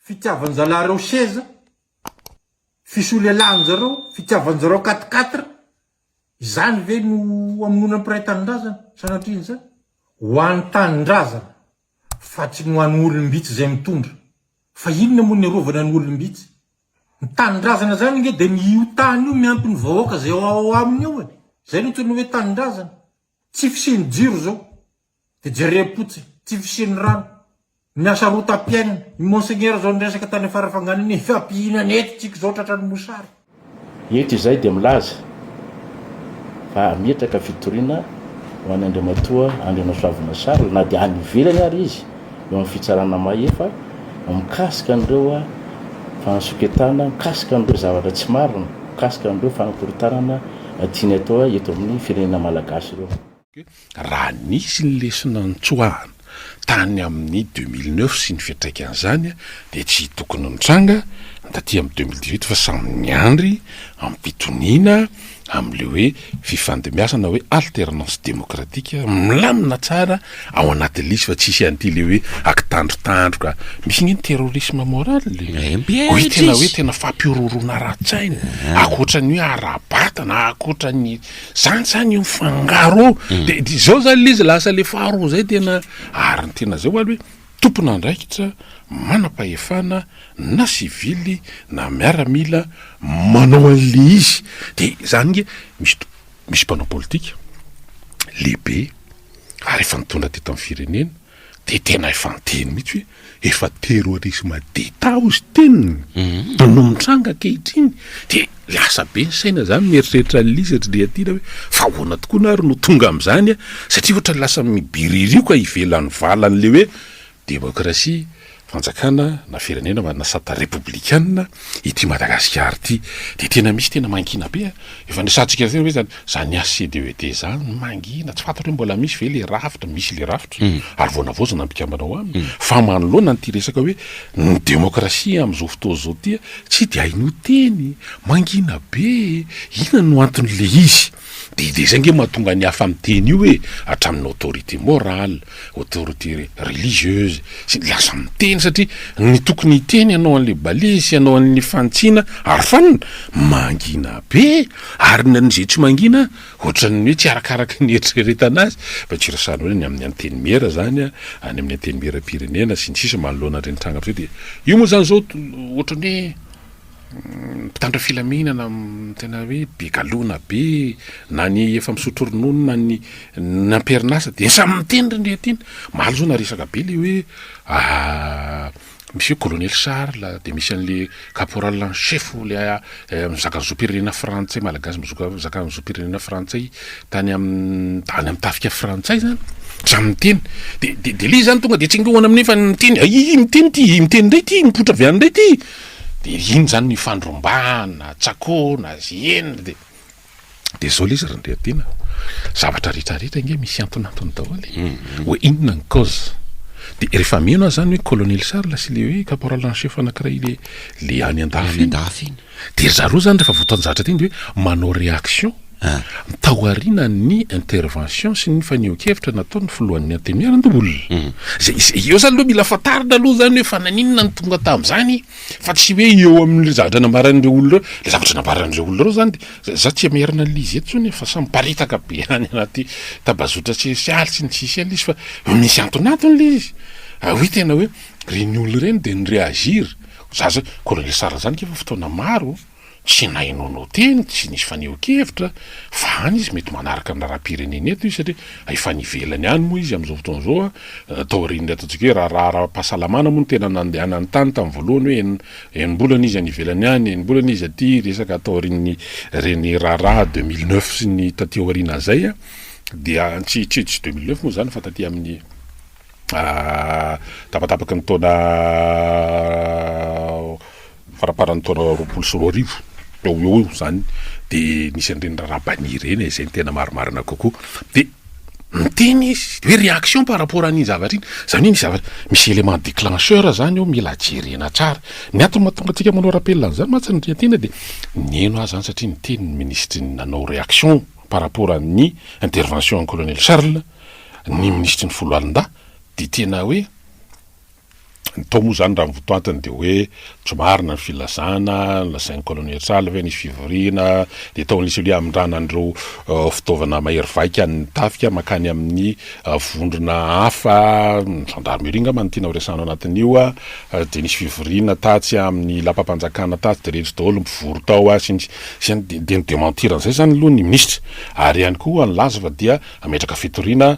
fitiavanjalareo seza, fisolelahanjareo, fitiavanjareo quatre quatre, izany ve no hamonoana ny mpiray tanindrazana? Sanatria izany? Ho an'ny tanindrazana fa tsy ny ho an'ny olom-bitsy izay mitondra. Fa inona moa ny arovana ny olom-bitsy? Ny tanindrazana izany ange dia ny io tany io miampy ny vahoaka izay ao aminy io e! Izay no antsoina hoe tanindrazana. Tsy fisian'ny jiro izao. Dia jereo potsiny, tsy fisian'ny rano, ny asa rotam-piainana. I Monseigneur izao niresaka tany Farafangana anie, efa mpihinana eto tsika izao tratran'ny mosary. Eto izahay dia milaza fa hametraka fitoriana ho an'i Andriamatoa Andrianasoavina Charles na dia any ivelany ary izy eo amin'ny fitsarana mahefa mikasika an'ireo fahansonketana, mikasika an'ireo zavatra tsy marina, mikasika an'ireo fanakorontanana tiany atao eto amin'ny firenena malagasy ireo. Raha nisy ny lesona nitsoahana tany amin'ny deux mille neuf sy ny fiantraikan'izany dia tsy tokony nitranga taty amin'ny deux mille dix huit fa samy niandry am-pitoniana amin'ilay hoe fifandimbiasana hoe alternance démocratique milamina tsara ao anatin'ny lisy fa tsisy an'ity ilay hoe akitandrotandroka misy ange ny terrorisme moral e! Io tena hoe tena fampihorohoroana ara-tsaina ankoatra ny hoe ara-batana ankoatra ny Zany zany io mifangaro io. De de zao zany le izy lasa le faharoa zay tena ary ny tena zay hoaly hoe tompon'andraikitra manam-pahefana na sivily na miaramila manao an'le izy de zany nge misy to- misy mpanao politika lehibe ary efa nitondra teto amin'ny firenena Dia tena efa niteny mihitsy hoe efa terrorisme d'Etat hoy izy teny e, no mitranga ankehitriny dia lasa be ny saina zany mieritreritra an'ilay izy ry Andriatiana hoe fa ahoana tokoa na ary no tonga amin'izany satria ohatra lasa mibiririoka ivelan'ny valan'ilay hoe démocratie. Fanjakana na firenena manana sata repoblikanina ity Madagasikara ity dia tena misy tena mangina be a! Efa niresahantsika teo ve izany? Izany HCDED izany mangina, tsy fantatro hoe mbola misy ve ilay rafitra? Misy ilay rafitra ary vao navaozina ny mpikambana ao aminy fa manoloana an'ity resaka hoe ny demokrasia amin'izao fotoana izao ity a! Tsy dia hainao teny e! Mangina be e! Inona no anton'ilay izy? Dia dia izay nge mahatonga ny hafa miteny io e, hatramin'ny autorité morale, autorité religieuse, sy ny lasa miteny satria ny tokony hiteny hanao an'ilay ballet sy hanao an'ilay fanitsiana ary fanina, mangina be e, ary na ny izay tsy mangina ohatran'ny hoe tsy arakaraky ny eritreretana azy, fa tsy resahana hoe ny amin'ny antenimiera izany a, any amin'ny antenimieram-pirenena sy ny sisa manoloana ireny tranga ireny dia io moa izany izao ohatran'ny hoe. Mpitandro filaminana tena hoe be galona be, na ny efa misotro ronono na ny amperin'asa dia samy miteny ry ndreto iny. Omaly izao naresaka be ilay hoe misy hoe colonel Charles dia misy an'ilay caporal en chef ilay mizaka ny zom-pirenena frantsay, malagasy mizaka ny zom-pirenena frantsay tany amin'ny any amin'ny tafika frantsay izany, samy miteny. Dia ilay izy izany tonga dia tsingeohana amin'iny fa miteny, ahiahy miteny ity, miteny indray ity, mipoitra avy any indray ity. de iny zany nifandrombahana, tsakoana, zihena de de zao le izy ry Andriatiana zavatra rehetra rehetra nge misy antonantony daholo e, hoe inona ny cause, de rehefa mino aho zany hoe colonel Charles sy le hoe caporal en chef anakiray le le any andafy iny de ry zareo zany rehefa voatanjahatra teny de hoe manao reaction, taorianan'ny intervention sy ny fanehoan-kevitra nataon'ny filohan'ny Antenimiera-Ndbol. Izay, izay eo izany aloha mila fantarina aloha izany hoe fa naninona no tonga tamin'izany fa tsy hoe eo amin'ilay zavatra nambaran'ireo olona ireo. Ilay zavatra nambaran'ireo olona ireo izany dia, izaho tsy hamerina an'il'izy eto intsony e, fa samy miparitaka be any anaty tambazotra sosialy sy ny sisa ilay izy fa misy antonantony ilay izy. Ary hoe tena hoe ireny olona ireny dia ni-reagir, ho za izao, Colonel Sarah izany akia efa fotoana maro, Tsy nainoanao teny, tsy nisy fanehoan-kevitra, fa any izy mety manaraka ny raharaham-pirenena eto izy satria efa any ivelany any moa izy amin'izao fotoana izao, taorian'ilay ataontsika hoe raharaha ara-pahasalamana moa no tena nandehanany tany tamin'ny voalohany hoe enim-bolana izy any ivelany any, enim-bolana izy aty, resaka taorian'ireny raharaha deux mille neuf sy ny taty aoriana izay dia tsy tsy tsy deux mille neuf moa izany fa taty amin'ny tapatapaky ny taona faramparan'ny taona roapolo sy roa arivo teo ho eo izany dia nisy an'ireny raharaha banni ireny e, izay no tena marimarina kokoa dia miteny izy hoe réaction par rapport an'iny zavatra iny, izany hoe misy zavatra, misy élément déclencheur izany eo mila jerena tsara, ny antony mahatonga antsika manao rappel an'izany mantsy ny tena dia nino ahy izany satria niteny ny minisitry ny nanao réaction par rapport an'ny intervention an'i colonel Charles ny minisitry ny foloalindahy dia tena hoe Ny tao moa izany raha ny votoatiny dia hoe tsy marina ny filazana lazain'ny Colonel Sala hoe nisy fivoriana dia tao Lisy Oliahy amindrana an'ireo fitaovana mahery vaika ny tafika mankany amin'ny vondrona hafa ny gendarmerie angamba no tiana horesahana ao anatin'io dia nisy fivoriana tatsy amin'ny lapam-panjakana tatsy dia retsy daholo ny mpivory tao sy ny sisa dia ni-dementir an'izay izany aloha ny minisitra ary ihany koa nilaza fa dia hametraka fitoriana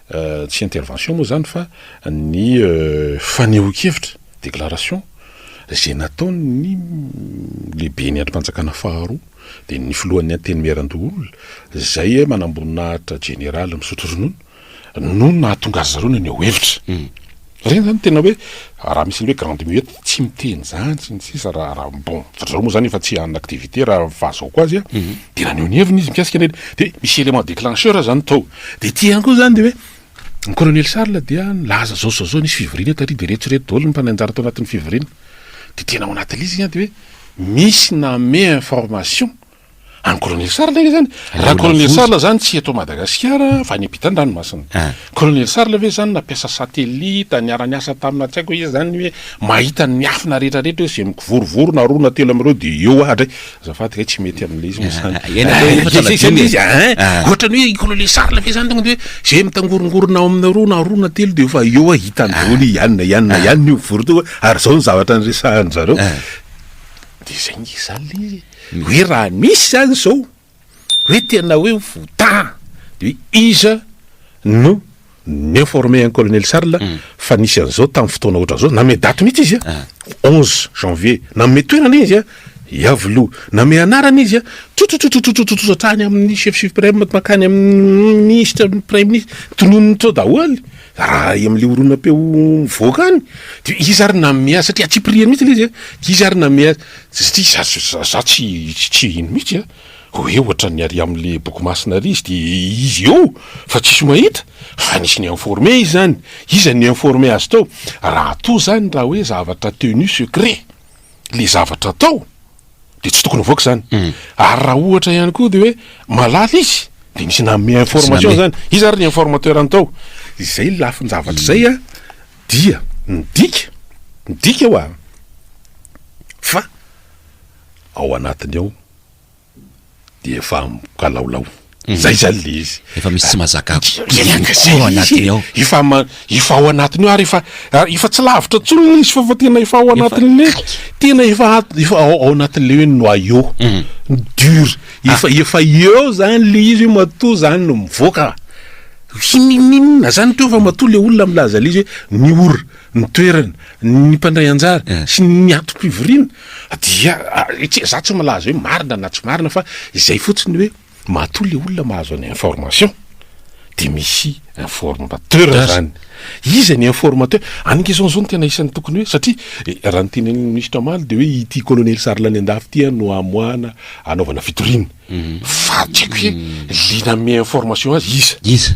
Tsy intervention moa izany fa ny fanehoan-kevitra, déclaration, izay nataon'ny lehiben'ny andrimpanjakana faharoa dia ny filohan'ny Antenimierandoholona izay manamboninahitra jeneraly misotro ronono no nahatonga azy zareo naneho hevitra. Ireny zany tena hoe raha misy ny hoe grande muette tsy miteny zany sy ny sisa raha raha bon ry zareo moa zany efa tsy en activité raha fahazaoko azy a de naneho ny heviny izy mikasika an'ireny de misy élément déclencheur zany tao de ity ihany koa zany de hoe ny colonel Charles dia nilaza zao zao zao nisy fivoriana tary de reto sy reto daholo ny mpanao anjara tao anatin'ny fivoriana de tena ao anatin'ilay izy de hoe misy namehy information any colonel sarla ve zany raha colonel sarla zany tsy eto madagasikara fa any ampitan dranomasina ah. colonel sarla ve zany nampiasa satellite niara niasa tamina tsy haiko izy zany hoe mahita ny afina rehetrarehetra hoe zay mikivorovoro na roa na telo am'ireo de eo adray zafady kay tsy mety amin'ilay izy mosany ohatrany hoe colonel sarla ve zany tonga de hoe zay mitangorongorona ao amina roa na roa na telo de efa eo a hitany daholo ihany na ihany na ihany ny voro toa ary zao ny zavatra niresahany zareo de zay nge zany le izy Hoe raha misy zany zao hoe tena hoe votaha de hoe iza no ni-informer an'i Colonel Charles fa nisy an'izao tamin'ny fotoana ohatran'izao, nanome daty mihitsy izy a, onze janvier, nanome toerana izy a, Iavoloha, nanome anarana izy a, trotrotrotrotrotrotrotrotra hatrany amin'ny chef supreme, mankany amin'ny minisitra, ny praiminisitra, tononiny teo daholo, Raha any amin'ilay horonam-peo mivoaka any, dia iza ary nanome azy? Satria antsipiriany mihitsy ilay izy an! Dia iza ary nanome azy? Satria za, za tsy, tsy hino mihitsy an! Hoe ohatran'ny ary amin'ilay boky masina ary izy, dia izy eo fa tsisy mahita? Fa nisy ni-informer izy zany! Iza no ni-informer azy tao? Raha toa zany, raha hoe zavatra tenu secret ilay zavatra atao, dia tsy tokony havoaka izany. Hmm. Ary raha ohatra ihany koa dia hoe malala izy, dia misy nanome information izany. Iza ary ny informateur-ny tao? Izay ny lafin-javatra hmm. izay a, dia ny dika, ny dika hoa, fa ao anatiny ao dia efa mikalaolao. Zay zany le izy. Efa misy tsy mazaka ao anatiny ao. Efa ma- efa ao anatiny ao ary efa ary efa tsy lavitra intsony le izy fa fa tena efa ao anatin'le tena efa at- efa ao ao anatin'le hoe noyau dur. Efa efa eo zany le izy hoe matoa zany no mivoaka. Hinininona zany teo fa matoa le olona milaza le izy hoe ny ora, ny toerana, ny mpandray anjara sy ny antom-pivoriana Dia izaho tsy milaza hoe marina na tsy marina fa izay fotsiny hoe matoa ilay olona mahazo an'i information dia misy informateur izany. Iza ny informateur? Any Quezon izao no tena isan'ny tokony hoe satria raha ny tenenin'ny ministra omaly dia hoe ity colonel Sarlanendafy ity an no amoahana anaovana fitoriana. Fa tsy haiko hoe ilay nanome information azy iza? Iza?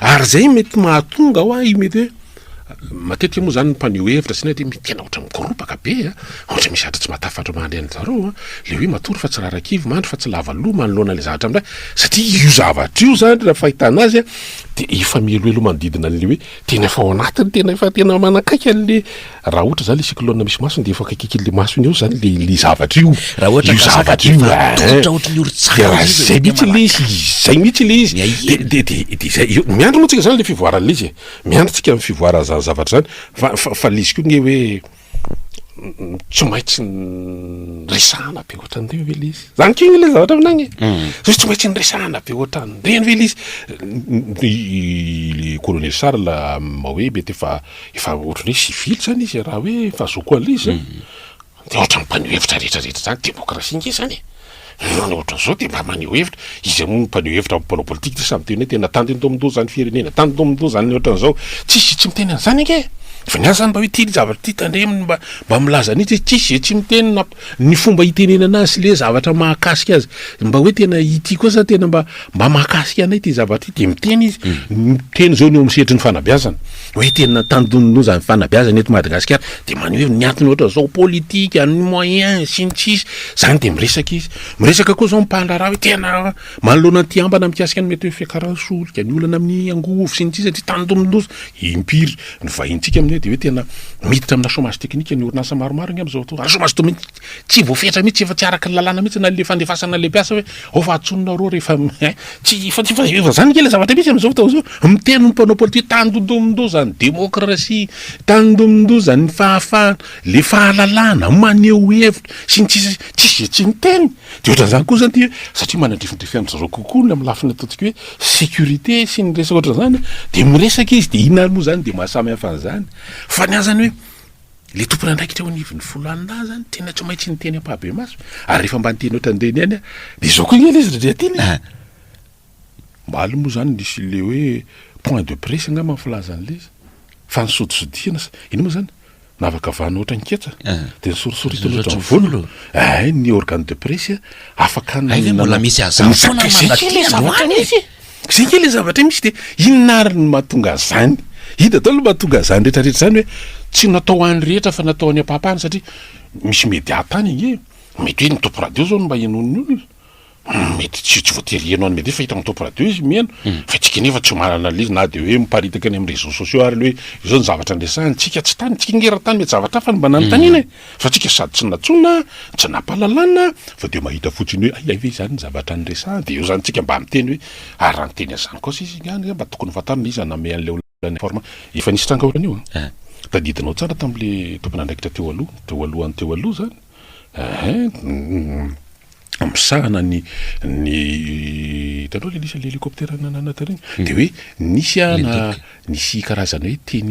Ary zay mety mahatonga hoa i mety hoe matetika moa zany ny mpaneho hevitra sy ny dia mety tena ohatran'ny mikoropaka be a, ohatra misy zatra tsy matafatra mandry an-dry zareo a, le hoe matory fa tsy rarakivy, mandry fa tsy lava loha manoloana ilay zavatra miray, satria io zavatra io zany raha fahitana azy a dia efa mihelohelo manodidina an'le hoe tena efa ao anatiny, tena efa tena manakaiky an'le Raha ohatra zany le cyclone misy masony de efa akaikiky le masony eo zany le le zavatra io, Raha ohatra io ka saka zavatra dia io efa eh, tongotra ohatry ny orin-tsaka dia raha izy, izay dia mihitsy le izy, manakana. izay mihitsy le izy, Miahiahy. de de de de izay, eo- miandry moa tsika zany le fivoaran'le izy e, miandry tsika ny fivoaran'ny zany zavatra zany, fa fa fa le izy koa nge hoe m- tsy maintsy n- resahana be ohatran'ireny ve le izy, zany kegny le zavatra aminay e, hoe tsy maintsy niresahana be ohatran'ireny ve le izy, ny le colonel Charles ma hoe mety efa efa ohatran'ny hoe sivily zany izy e, raha hoe efa zoky an'izy e, dia ohatran'ny mpaneho hevitra rehetrarehetra izany, demokrasia ange izany e, olona ohatran'ny izao dia mba maneho hevitra, iza moa no mpaneho hevitra amin'ny mpanao politika ity samy miteny hoe tena tandiny tao amin-doha izany firenena, tandiny tao amin-doha izany ny ohatran'izao, tsisy tsy miteny an'izany ange e, fa ny azy izany mba hoe ity ny zavatra ity tandremo ny mba milaza an'ity, tsisy izay tsy miteny na Ny fomba itenenana azy sy le zavatra mahakasika azy mba hoe tena ity koa sa tena mba mba mahakasika anay ity zavatra ity dia miteny izy miteny zao ny eo amin'ny sehatry ny fanabeazana hoe tena tandindoza ny fanabeazana eto Madagasikara dia maneho hoe ny antony ohatra zao politika ny moyen sy ny sisa zany dia miresaka izy miresaka koa zao ny mpandraharaha hoe tena Manoloana ny tiam-bana mikasika ny mety ho fiakaran'ny solika, ny olana amin'ny angovo, sy ny sisa Ny tanindonindosy impiry ny vahintsika amin'io dia hoe tena miditra amina chômage technique ny orinasa maromaro angamba izao fotoana, ary chômage dominique tsy voafetra mihitsy, efa tsy araka ny lalàna mihitsy na ilay fandefasana ilay mpiasa hoe ao fa antsonona arô rehefa ein, tsy, efa tsy, efa izany ange ilay zavatra misy amin'izao fotoana izao, miteny ny mpanao politika hoe tanindondomindoza ny démocratie, tanindonindozan'ny fahafahana, ilay fahalalahana, maneho hevitra, sy ny sisa Tsisy izay tsy niteny. Dia ohatran'izany koa izany dia satria manadrifindraify an-dry zareo kokoa ny amin'ny lafiny ataontsika hoe sécurité sy ny resaka ohatran'izany dia miresaka izy dia inona ary moa izany dia maha samy hafa an'izany fa ny ahy izany hoe ilay tompon'andraikitra eo anivon'ny Folanina ahy izany tena tsy maintsy niteny ampahabemaso ary rehefa mba niteny ohatran'ireny ihany aho dia izao koa ange ilay izy ry Andriatiana e! Omaly moa izany nisy ilay hoe point de presse angamba ny filaza an'ilay izy. Fa ny sodisodihana sa inona moa izany? Navakavahana ohatran'ny ketsa dia nosorisoritana ohatran'ny volo. Hay ny organe de presse afaka nanao. Hay ve mbola misy hazavana manadino androany e? Izay kay ilay zavatra misy e! Izay kay ilay zavatra misy dia inona ary no mahatonga an'izany? Inona daholo no mahatonga an'izany rehetrarehetra izany hoe tsy natao ho an'ny rehetra fa natao ho an'ny ampahapahany satria misy media tany ange e! Mety hoe ny tompon-radio izao no mba henoin'ny olona. Mety tsy tsy voatery heno an'i Mehdi fa hitan'ny top radio izy miheno fa tsika nefa tsy mahay analyse na dia hoe miparitaka any amin'ny réseaux sociaux ary le hoe izao ny zavatra andresahany, tsika tsy tany, tsika nge raha tany mety zavatra hafa no mba nanontaniana e! fa tsika sady tsy nantsoina, tsy nampahalalana, fa dia mahita fotsiny hoe hay ve izany ny zavatra niresahany dia eo izany tsika mba miteny hoe ary raha niteny an'izany kosa izy nga mba tokony ho fantarina iza nameha an'ilay Forme. Efa nisy tranga ohatran'io a! Tadidinao tsara tamin'ilay tompon'andraikitra teo aloha, teo alohan'ny teo aloha izany a! Misahana ny, ny, hitanao ilay nisy an'ilay hélicoptère nanana tary iny? Dia hoe nisy a, na, nisy karazana hoe teny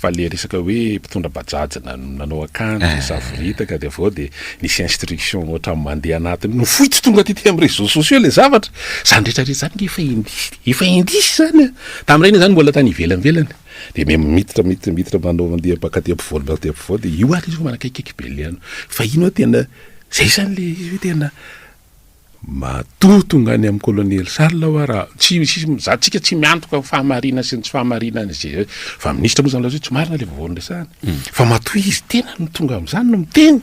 Fa le resaka hoe mpitondra bajaj nanao akanjo eh. savoritaka dia avy eo dia nisy instruction ohatran'ny mandeha anatiny no fohy tsy tonga tety amin'ny réseaux sociaux le zavatra zany retraretra zany efa indisy efa indisy zany a tamin'ireny izany mbola tany ivelanvelany dia me miditra miditra miditra manao mandeha baka aty ampovoany baka aty ampovoany dia io ary izy manakaikaiky be le ano fa ino tena zay zany le izy hoe tena Matoa tonga any amin'ny Kolonely Charles aho ary tsy misy mizaha antsika tsy miantoka ny fahamarinany sy ny tsy fahamarinany izay efa minisitra moa izany lazaina hoe tsy marina ilay vaovao niresahana hmm. fa matoa izy tena no tonga amin'izany no miteny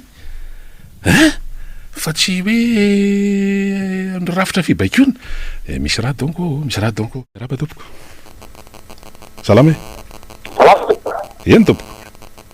eh? fa tsy hoe eh, ny rafitra fibaikoana eh, misy raha donko oh, misy raha donko oh. raba tompoko salama e eny tompoko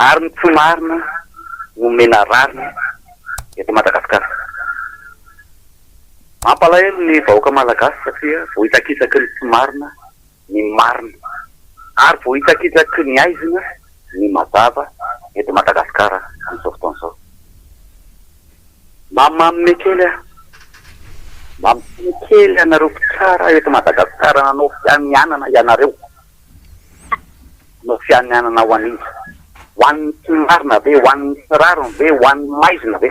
Ary ny tsy marina no omena rariny eto Madagascar. Mampalahelo ny vahoaka Malagasy satria vohitsakitsaky ny tsy marina ny marina ary vohitsakitsaky ny aizina ny mazava eto Madagascar amin'izao fotoana izao. Mba manome kely aho, mba miteny kely anareo mpitsara eto Madagascar nanao fianianana ianareo. no fianianana ho an'iza? Ho an'ny tsy marina ve? Ho an'ny tsy rariny ve? Ho an'ny maizina ve?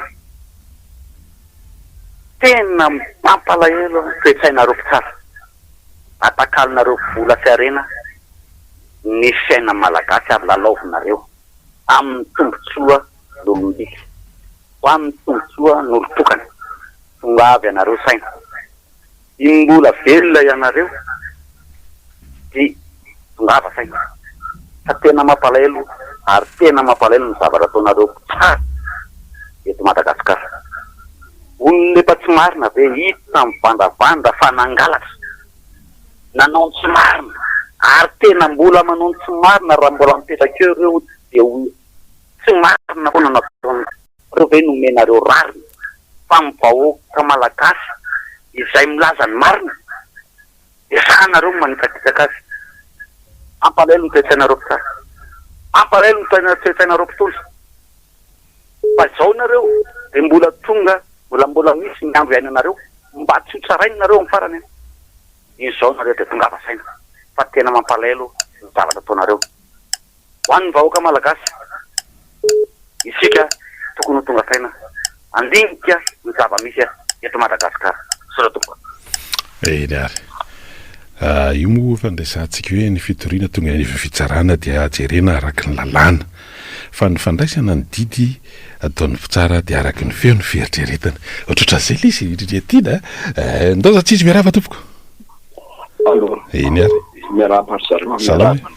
Tena mampalahelo ny toe-tsainareo mpitsara. Atakalonareo vola sy harena ny fiainan'ny Malagasy ary lalaovinareo amin'ny tombotsoa n'olom-bitsy, amin'ny tombotsoa n'olon-tokana. Tongava ianareo saina. Dimy mbola velona ianareo dia mirava saina fa tena mampalahelo ary tena mampalahelo ny zavatra ataonareo mpitsara eto Madagascar. Olona efa tsy marina ve hiditra mivandravandra fa nangalatra, nanao ny tsy marina ary tena mbola manao ny tsy marina raha mbola mipetraka eo ireo dia ho tsy marina foana ny ataonareo. Nareo ve nomenareo rariny fa ny vahoaka malagasy izay milaza ny marina dia sahanareo ny manitsakitsaka azy? Ampalahelo ny toe-tsainareo mpitsara. Ampalahelo ny toe-tsainareo mpitondra. Fa izao nareo dia mbola tonga mbola mbola misy ny andro hiainanareo mba tsy ho tsarainy nareo amin'ny farany an! Izao nareo dia tongava saina fa tena mampalahelo ny zavatra ataonareo. Ho an'ny vahoaka Malagasy, isika tokony ho tonga saina, handinika ny zava-misy eto Madagasikara. Misaotra tompoko. Eny ary. Io moa efa andraisantsika hoe ny fitoriana tonga any ivelan'ny fitsarana dia jerena araka ny lalàna. Fa ny fandraisana ny didy ataon'ny mpitsara dia araka ny feo ny fieritreretany. Ohatrohatran'izay ilay izy, Riria Tiana a! Ndaoza Tsijy miarahaba tompoko. Allo. Eny ary. Miarahaba ry zareo. Salama.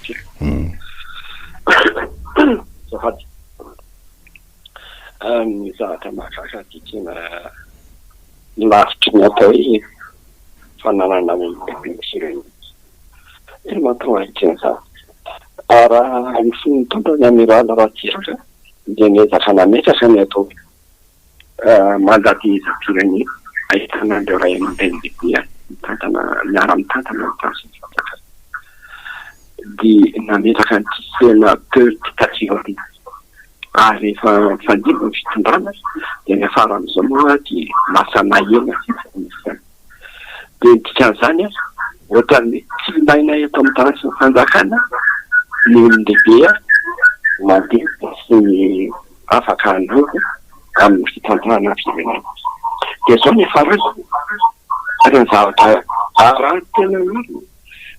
Azafady. Ny zavatra mahagaga dia tena lavitry ny atao hoe fananana olon-dehibe mihitsy ireo mihitsy. Tena mahatonga ahy tsy mizaha. Raha ny fony nitondra ny Amiral Ratsiraka dia niezaka nametraka ny atao hoe mandat de dépôt-n'ny ahitana ireo ray aman-dreny lehibe any mitantana miara-mitantana ny tafika ny fanjakana dia nametraka ny système peu dictature ary rehefa nifandimby ny fitondrana dia ny faran'izao moa dia lasa nahena isan'isany dia ny dikan'izany ohatran'ny tsy ilaina eto amin'ny tarafin'ny fanjakana ny olon-dehibe mandeha sy ny afaka hanampy amin'ny fitantanana firenena. Dia izao ny ifarany, ary ny zavatra arahin'ny tena olona,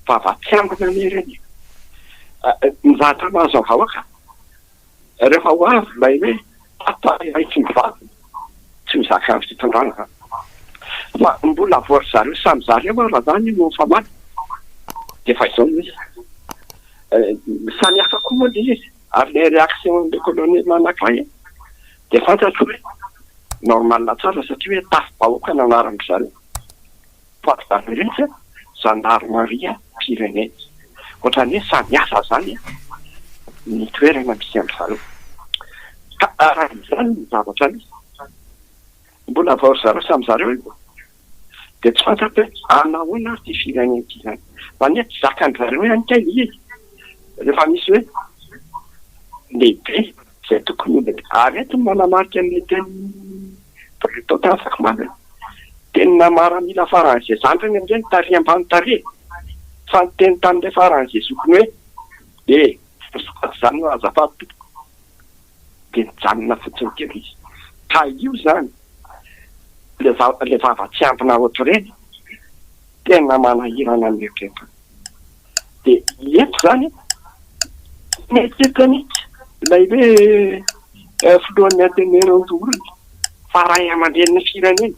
vava tsy ambina anie ireny e! Ny zavatra mahazo ny vahoaka, rehefa ho avy ilay hoe tapa iray tsy mivadina, tsy mizaka fitantanana, fa mbola voa ry zareo samy zareo ary raha izany no mifamaly, dia efa izao no izy. Samy hafa koa moa ilay izy. Ary ilay réaction-n'ny colonel anankiray dia fantatro hoe normal tsara satria hoe tafi-bahoaka no anaran'izany poids d'amérique, gendarmerie, pyrénées. Ohatran'ny hoe samy hafa izany ny toerana misy an-dry zareo. Ka araka izany ny zavatra misy. Mbola vao ry zareo samy zareo io dia tsy fantatro hoe hanao ahoana ary ity firenena ity izany. Izany hoe tsy zakan-dry zareo ihany kay ilay izy. Rehefa misy hoe lehibe izay tokony ho lehibe. Ary eto ny manamarika ny tenin'i Bruton tany Sakomanga hoe tenina maramila faran'izay. Izany ireny amin'izay ny tarehy ambany tarehy fa ny teny tamin'ilay faran'izay zokiny hoe e! Azafady izany no azafady tompoko. dia nijanona fotsiny kely izy. Ka io izany, ilay vava, ilay vava tsy ampina ohatr'ireny, tena manahirana ny eritreritany. Dia eto izany, mieritreritra mihitsy ilay hoe eh, filohan'ny Ateneo Ranjohorina fa ray aman-drenin'ny firenena.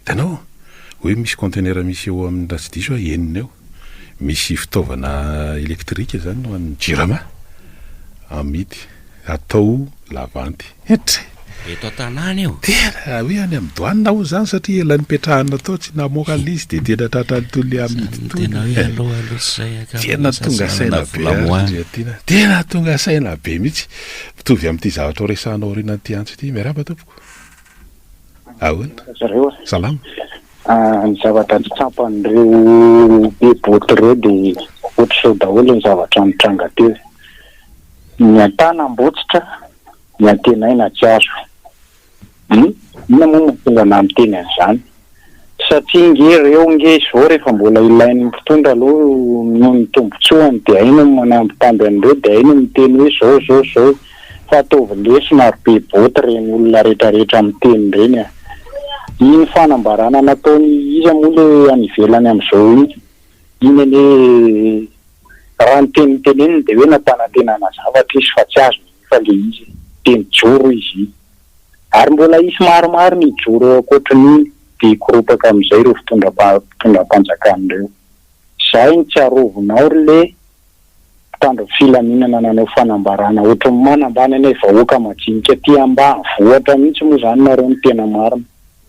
Hitanao? Hoe misy container misy eo amin'ny raha tsy diso aho enina eo. Misy fitaovana elektrika izany ho an'ny Jirama. Amidy. Atao lavanty. Hetre! Eto an-tanàna io. Tena! Hoe any amin'ny douane hono izany satria ela nipetrahana tao tsy namoaka ilay izy dia tena tratran'ny tolona amidy itony. Izany no tena hoe aloha aloha tsy izay ankamaroan'ny sasany manana vola moana. Tena tonga saina be mihitsy. Mitovy amin'ity zavatra ho resahana aorianan'ity antso ity. Miarahaba tompoko. Ahoana? Zareo a. Salama. Ah, ny zavatra tsy tsapan'ireo be boto ireo dia ohatr'izao daholo ny zavatra nitranga teo. Ny an-tanam-botsitra, ny antenaina tsy azo. Hum? Inona moa no mahatonga anah miteny an'izany? satria nge reo nge izao refa mbola ilain'ny mpitondra aloha noho ny tombotsoany de hay no manambitamby an'ireo de hay no miteny hoe zao zao zao fa ataovy lesona ry be boty ireny olona retraretra miteny ireny a! Iny fanambarana nataony iza moa le any ivelany amzao iny? Iny anie raha ny teny noteneniny de hoe nampanantenana zavatra izy fa tsy azo milefa le izy e! Teny joro izy iny. Ary mbola hisy maromaro ny hijoro eo ankoatrin'iny dia hikoropaka amin'izay ireo fitondram-panjakana ireo. Izay no tsy arovinao ry le mpitandro ny filaminana nanao fanambarana ohatry ny manambany anay vahoaka majinika aty ambanivohitra mihitsy moa izany nareo no tena marina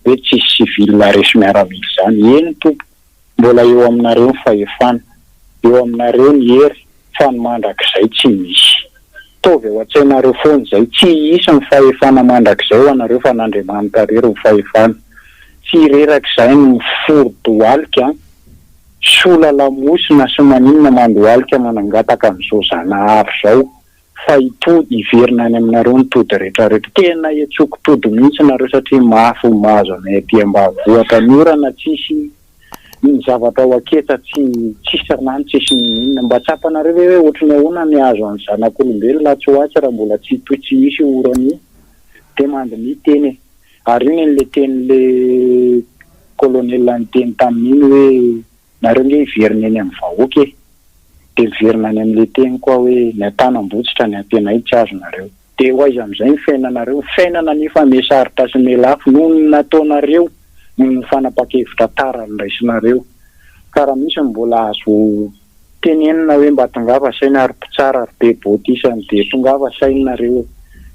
hoe tsisy civil resy miaramila izany. Eny tompoko. Mbola eo aminareo ny fahefana, eo aminareo ny hery fa ny mandrakizay tsy misy. Ataovy ao an-tsainareo foana izay, tsy hisy ny fahefana mandrakizay ho anareo fa an'Andriamanitra irery ny fahefana. Tsy rerak'izay ny mifori-dohalika, sola lamosina sy maninona mandohalika manangataka an'izao Zanahary izao. fa hitohy hiverina any aminareo ny tody retraretra, tena hetsoky tody mihitsy nareo satria mafy ny mahazo anay aty ambavohitra ny orana tsisy ny zavatra ao aketsa tsy tsisy rano tsisy ninoninona, mba tsapanareo ve hoe ohatry ny ahoana ny hahazo an'ny zanak'olombelona atsy ho atsy raha mbola tsy hitohy tsy hisy io orana io dia mandiniha teny e! ary io ny an'ilay tenin'ilay colonel niteny tamin'iny hoe Nareo nge hiverina eny amin'ny vahoaka e! Dia miverina any amin'ilay teniko aho hoe ny an-tanam-botsitra ny antenaiko tsy azonareo. Dia ho aiza amin'izay ny fiainanareo? Ny fiainana anefa mihasarotra sy mihalafo noho ny nataonareo, noho ny fanapa-kevitra tara niraisinareo. Ka raha misy ny mbola azo tenenina hoe mba tongava saina ry mpitsara ry be boty isany dia tongava saina nareo e!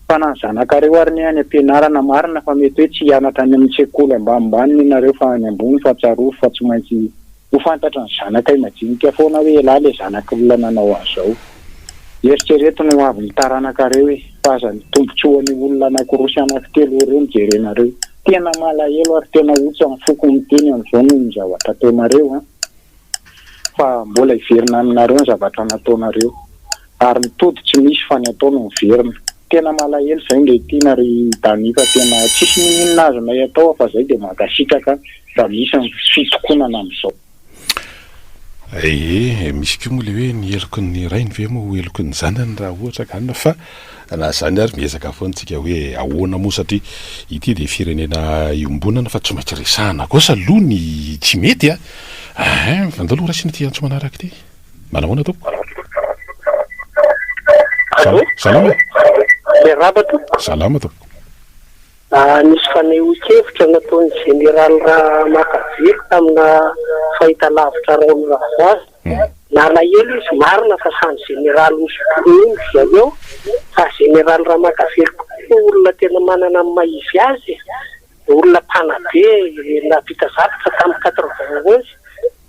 fa na ny zanakareo ary ny any am-pianarana marina fa mety hoe tsy hianatra any amin'ny sekoly ambanimbany ny nareo fa any ambony fa tsarovy fa tsy maintsy ho fantatry ny zanakay majinika foana hoe elah le zanak'olona nanao an'izao eritrereto ny hoavin'ny taranakareo e fa aza ny tombotsoan'ny olona anakiroa sy anakitelo ireo no jerenareo tena malahelo ary tena otsy amin'ny foko miteny an'izao noho ny zavatra ataonareo an! fa mbola hiverina aminareo ny zavatra nataonareo ary ny tody tsy misy fa ny atao no miverina tena malahelo zay nge tiana ry Dani fa tena tsisy mininona azonay atao afa zay de mankasitraka ra misy ny fitokonana amizao. Ee, misy koa moa le hoe ny heloky ny rainy ve moa ho heloky ny zanany raha ohatra ka anona fa Na izany ary, miezaka foana isika hoe ahoana moa satria ity dia firenena iombonana fa tsy maintsy resahana kosa aloha ny tsy mety a! Ain! Andao aloha raisina ity antso manaraka ity. Manahoana tompoko? Allô? Salama e! Miarahaba tompoko. Salama tompoko. Nisy fanehoan-kevitra nataon'ny Jeneraly Ramakavelo tamina fahitalavitra Raoul Ravazy Nalahelo izy marina fa samy Général hosotroiny izy aveo fa Général Ramakavelo koa olona tena manana ny maha izy azy e! olona mpanabe nahavita zavatra tamin'ny quatre vingt onze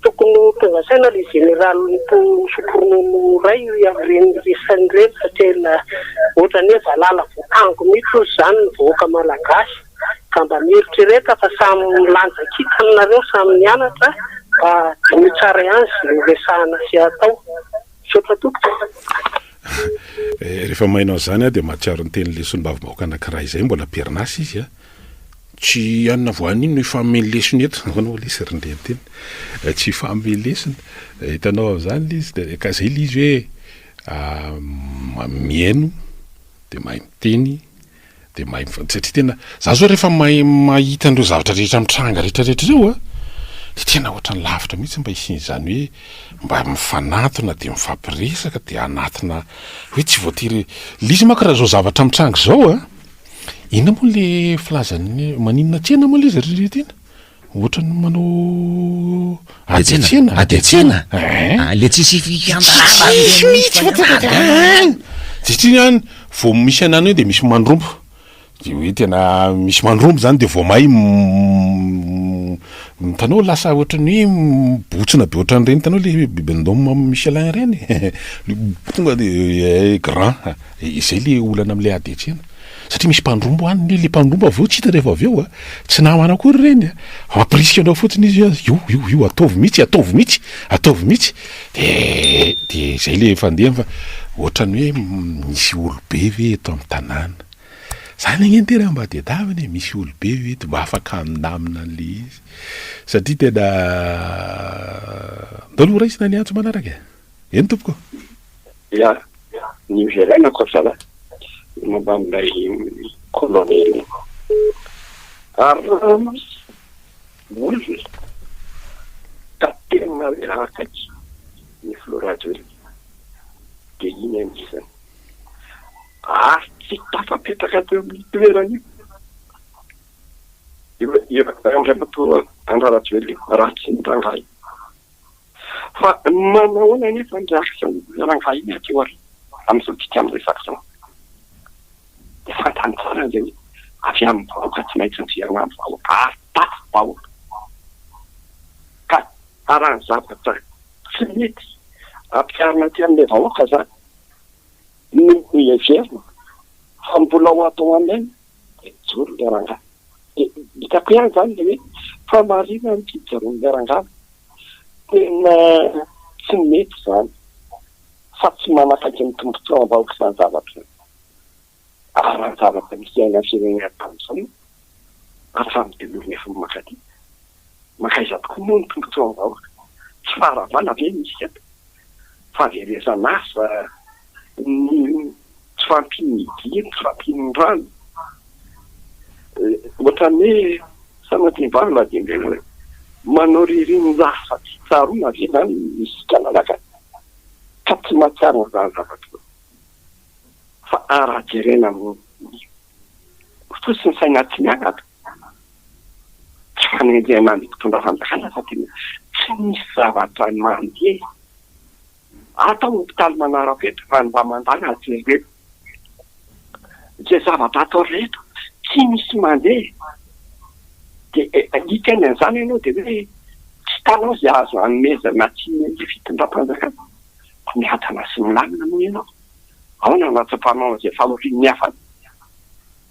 tokony ho tonga saina ilay Général hosotronono iray amin'ireny resany ireny satria ohatrany hoe valala voatango mihitsy hoy izany ny vahoaka malagasy. ka mba mieritrereta fa samy milanja kintana nareo samy mianatra mba diniho tsara ihany izay horesahana sy hatao. Misaotra tompoko e. Eh, rehefa maina an'izany aho dia mahatsiaro ny tenin'ny lesonim-bavimahoaka anankiray izay, mbola am-perinasa izy an. Tsy hanina voanio no hifahamehy ny lesony eto. Ahoana moa lesy ry Ndreniteny? Eh, tsy hifahamehy ny lesony. Eh, hitanao amin'izany ilay izy, dia ka izay ilay izy hoe ah, mihaino, dia mahay miteny, Dia mahay mifa, satria tena, za zao rehefa mahay mahita an'ireo zavatra rehetra mitranga rehetra rehetra ireo a, dia tena ohatran'ny lavitra mihitsy mba hisian'izany hoe mba mifanatona dia mifampiresaka dia anatina hoe tsy voatery, le izy manko raha zao zavatra mitranga izao a, inona moa le filazan'ny hoe maninona tena moa le izy ry Ririntina? Ohatran'ny manao ady an-tsena. Ady an-tsena. Le tsisy fikambanana. Tsisy mihitsy an. Satria an vao misy an'any eo de misy mandrombo. De hoe tena misy mandrombo zany de vao may hitanao lasa ohatran'ny hoe mibotsina be ohatran'ireny hitanao le bibendôme am' Michelin ireny. Tonga de grand. Izay le olana am'le ady an-tsena. Satria misy mpandromba any le le mpandromba vao tsy hita rehefa avy eo a! Tsy namana akory ireny a! Ampirisika anao fotsiny izy hoe io io io ataovy mihitsy ataovy mihitsy ataovy mihitsy de de zay le fandehany fa ohatrany hoe misy olobe ve eto amin'ny tanàna? Zany ange ny tena mba tedavina e! Misy olobe ve eto mba afaka handamina an'le izy? Satria tena ndao aloha raisina ny antso manaraka e! Eny tompoko. Ya, ny hoverenako ry zalahy, ny momba an'ilay kolonely Arama hoy izy ka tena hoe akaiky ny filoha Rajoelina dia iny anisany ary tsy tafapetraka teo amin'io toerana io io andriamatoa Andry Rajoelina io raha tsy ny rangahy. Fa manahoana anefa ny reaction-n'ny rangahy miato eo ary amin'izao dika miresaka izao? Dia fantany tsara ange hoe avy amin'ny vahoaka tsy maintsy miverina amin'ny vahoaka ary tato vahoaka. Ka raha ny zavatra tsy mety ampiharina aty amin'ilay vahoaka izany no heverina fa mbola ho atao aminy Mijoro ilay rangahy. Dia hitako ihany izany ilay hoe fahamarinan'ny fijoroan'ilay rangahy. Tena tsy mety izany fa tsy manakaiky ny tombontsoam-bahoaka izany zavatra izany. Ary raha ny zavatra nisy iainan'ny firenena tamin'izao moa, ary efa midilory efa mankaty, mankaiza tokoa moa ny tombontsoam-bahoaka? Tsy faharavana ve misy eto? fahaverezan'asa, ny tsy fahampian'ny dihy, ny tsy fahampian'ny rano. Ohatran'ny hoe sanatria-balo na dia indray hoe manao ririnina-jaza tsy tsaroana ve izany isika Malagasy ka tsy mahatsiaro an'izany zavatra izany? Fa raha jerena amin'ny fo sy ny saina tsy miangatra, tsy fanenjehana ny mpitondra fanjakana fa tena tsy misy zavatra mandeha ato an hopitaly manarapenitra fa ny mba mandala jereo izay zavatra atao rehetra tsy misy mandeha dia alika ny an'izany ianao dia hoe tsy hitanao izay azo hanomezana tsy ny fitondram-panjakana fa miadana sy milamina moa ianao ahoana no hatsapanao an'izay fahorian'ny hafa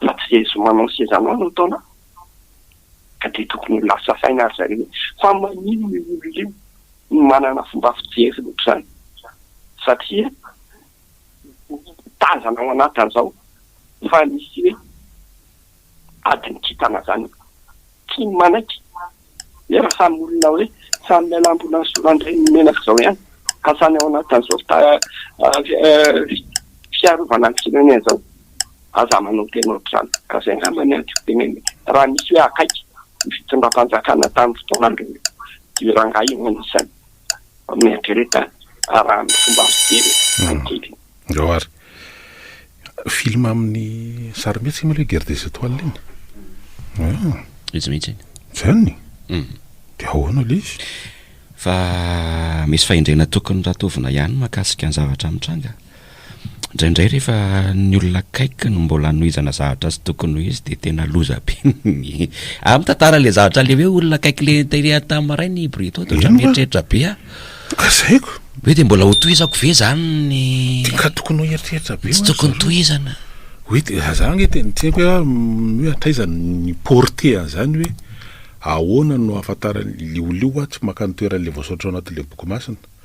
Fa tsy izay zomanao sy izay zanao no ataonao an! Ka dia tokony ho lasa saina ry zareo hoe fa maninona io olona io no manana fomba fijery ohatr'izany satria tazana ao anatiny izao fa misy hoe adin'ny kintana izany. Tsy manaiky. nefa samy olona hoe samy miala ambonan'ny solan-dreniny menaka izao ihany ka samy ao anatin'izao fiarovana ny firenena izao aza manao tena ohatr'izany ka izay angamba ny adiko teneniko raha nisy hoe akaiky ny fitondram-panjakana tamin'ny fotoana andron'ny rangahy no anisany. mieritrereta raha ny fomba fijery ankehitriny. Ndao ary. Film amin'ny sarimihetsika moa ilay Guerre des Etoiles iny. Ah. Izy mihitsy iny. Zany. Mm. Dia ahoana ilay izy? Fa misy fahendrena tokony ratovina ihany mahakasika ny zavatra mitranga. Indraindray rehefa ny olona akaiky no mbola anohizana zavatra tsy tokony ho izy dia tena loza be ny ah mitantara ilay zavatra ilay hoe olona akaiky ilay tery tamin'ny maraina i Brito dia ohatran'ny mieritreritra be ah kazaiko hoe dia mbola ho tohizako ve izany ny ka tokony ho eritreritra be tsy tokony tohizana hoe dia za nge tena tsy haiko hoe hatraiza ny portée an'izany hoe ahoana no ahafantaran'ny liolio ah tsy maka ny toeran'ilay voasoratra ao anatin'ilay boky masina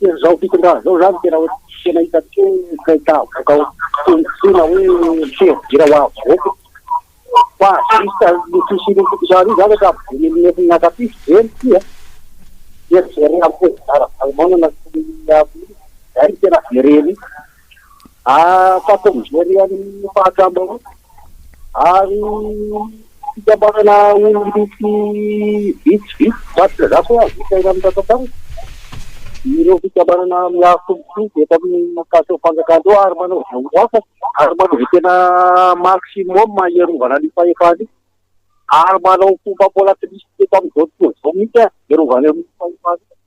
Tena zao fitondrana zao zany tena hoe tena hitantsika hoe president avoaka ao tena hoe fihevi-dira ho ahy vahoaka fa juste io fisian'io fitondrana io zany efa ampidininy nefiny miankapia f'zeny ty a dia jerena am president ravalomanana sy ny amin' io zay no tena jerena io. afaka mijery an'ny fahadiram-bahoaka ary fikambanana olon-dratsy vitsivitsy tahaka izany koa azo isaina amin'ny rantsantanana ireo fikambanana miaro tombontsoa eto amin'ny tafika fanjakana eo ary manao izay ho afaka ary manao izay tena maximum hiarovana ny fahefana io ary manao fomba paola-plisy eto amin'izao tontolo izao mihitsy hiarovana ny fahefana io.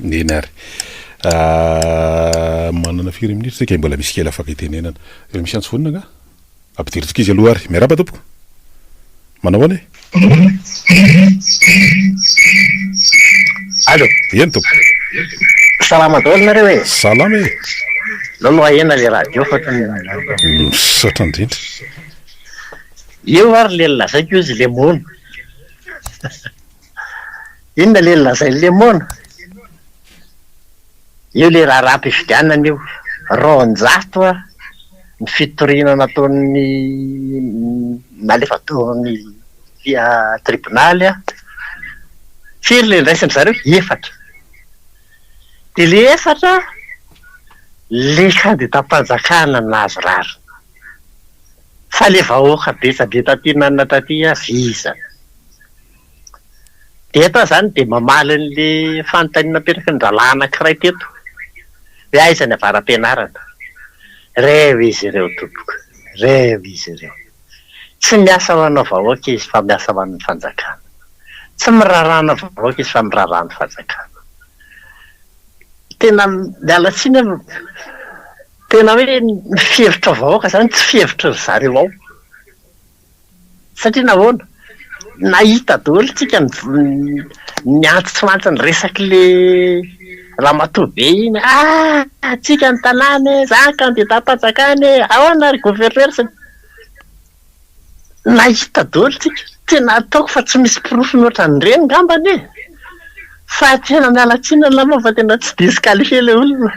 Eny ary. Ah, manana firy minitra isika? Mbola misy kely afaka itenenana. Efa misy antso vonona angaha? Ampidirintsika izy aloha ary. Miarahaba tompoko. Manao ahoana e? Allo. Eny tompoko. Salama daholo nareo e? Salama e. Aleo aloha ahena le radio fa tena. Misaotra indrindra. Eo ary le lazaiko izy lemon. Inona le lazain'i lemon? Eo le raharaham-pifidianana io. Roanjato ary ny fitoriana nataon'ny nalefa tao amin'ny tribonaly an. Firy le niraisin-dry zareo? Efatra. Dia ilay efatra, ilay kandidam-panjakana nahazo rariny. Fa le vahoaka betsabe taty nanana taty avy iza? Dia eto aho izany dia mamaly an'ilay fanontaniana napetraky ny rahalahy anankiray teto hoe aiza ny avara-pianarana? Reo izy ireo tompoko, reo izy ireo. Tsy miasa ho ana vahoaka izy fa miasa ho an'ny fanjakana. Tsy miraharaha ana vahoaka izy fa miraharaha ny fanjakana. Tena miala tsiny aho. Tena hoe ny fihevitra vahoaka izany tsy fihevitry ry zareo ao. Satria nahoana? Nahita daholo isika ny antson'antson'ny resak'ilay ramatoa be iny, ah antsika ny tanàna e, za kandidam-panjakana e, ahoana ry gouverneur sy ny. Nahita daholo tsika, tena ataoko fa tsy misy porofony ohatran'ireny ngambany e! Fa tena miala tsiny angamba fa tena tsy disqualifier ilay olona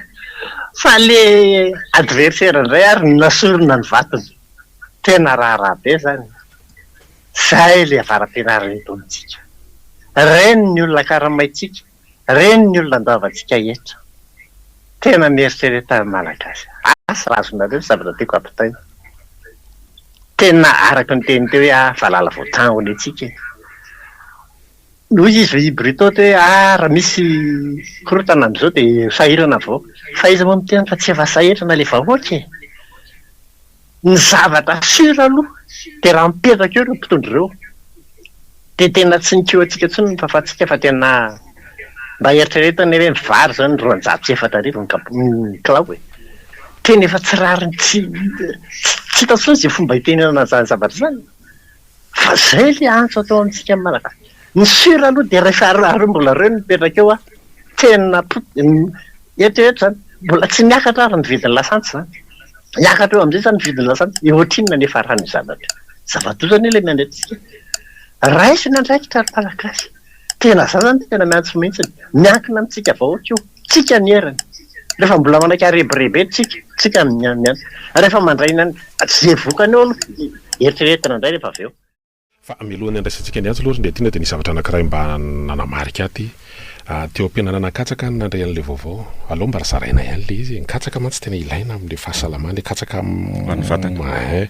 fa ilay adversaire indray ary no nasorina ny vatony. Tena raharaha be izany. Izay ilay avara-pianaran'ny Ntaonintsika. Ireny ny olona karamaintsika. Reny ny olona andoavantsika eto. Tena mieritrereta ny Malagasy a! Asa raha azonareo ny zavatra tiako ampitaina. Tena araka ny teniny teo hoe ah valala vao taho ny antsika e! Hoy izy hoy i Bruto teo hoe ah raha misy korontana amin'izao dia sahirana avao. Fa iza moa miteny fa tsy efa sahirana ilay vahoaka e! Ny zavatra sûr aloha dia raha mipetraka eo ireo mpitondra ireo dia tena tsy ny kiho antsika intsony no tafantsika fa tena mba eritrereto anie hoe ny vary izao ny roanjato sy efatra arivo ny kap- ny kilao e! tena efa tsy rariny tsy tsy hita intsony izay fomba hitenenana izany zavatra izany. Fa izay ilay antso atao amintsika Malagasy. Ny sur aloha dia rehefa ireo mbola ireo nipetraka eo an, tena eto eto izany mbola tsy niakatra ary ny vidin'ny lasantsy izany. Hiakatra eo amin'izay izany ny vidin'ny lasantsy dia ohatrinona ny hafaran'io zavatra io. Zava-doza anie ilay miandry antsika. Raiso ny andraikitra ry Malagasy. Tena za zany tena miantso mihitsiny. Miankina amintsika vahoaka io. Tsika ny heriny. Rehefa mbola manaiky arebireby eny tsika, tsika no miantso. Rehefa mandray ny an'ny, ze vokany eo aloha no eritreretina indray rehefa avy eo. Fa mialohan'ny handraisantsika ny antso aloha ry Ndriatiana dia nisy zavatra anankiray mba nanamarika ahy ty. Teo am-pianarana katsaka aho no nandray an'ilay vaovao. Aleo mba zaraina ihany ilay izy e. Ny katsaka mantsy tena ilaina amin'ilay fahasalamana e. Katsaka amin'ny vatana. Ein.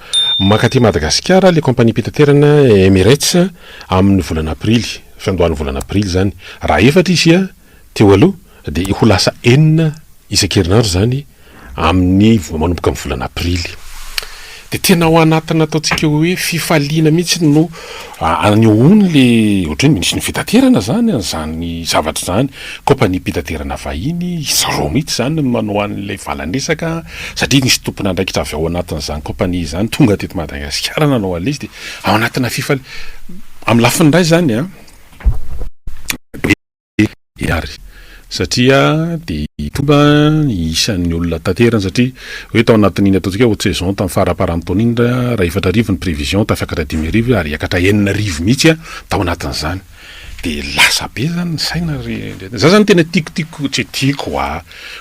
Mankaty Madagasikara ilay kaompaniam-pitaterana Emirates amin'ny volana aprily, fiandohan'ny volana aprily izany. Raha efatra izy teo aloha dia ho lasa enina isan-kerinandro izany amin'ny, manomboka amin'ny volana aprily. Dia tena ao anatin'ny ataontsika hoe fifaliana mihitsy no anehoany ilay ohatra hoe minisitry ny fitaterana izany an'izany zavatra izany, kaompaniam-pitaterana vahiny, izy roa mihitsy izany no manao an'ilay valan-dresaka. satria nisy tompon'andraikitra avy ao anatin'izany kaompania izany tonga teto Madagasikara nanao an'ilay izy dia ao anatina fifali-, amin'ny lafiny iray izany an, be ary satria dia tonga ny isan'ny olona taterany satria hoe tao anatin'iny ataontsika hoe haute saison tamin'ny faramparan'ny taona iny raha efatra arivo ny prévision tafiakatra dimy arivo ary hiakatra enina arivo mihitsy an, tao anatin'izany. de lasa be zany ny saina ry ndry za zany tena tiako tiako tsy tiako a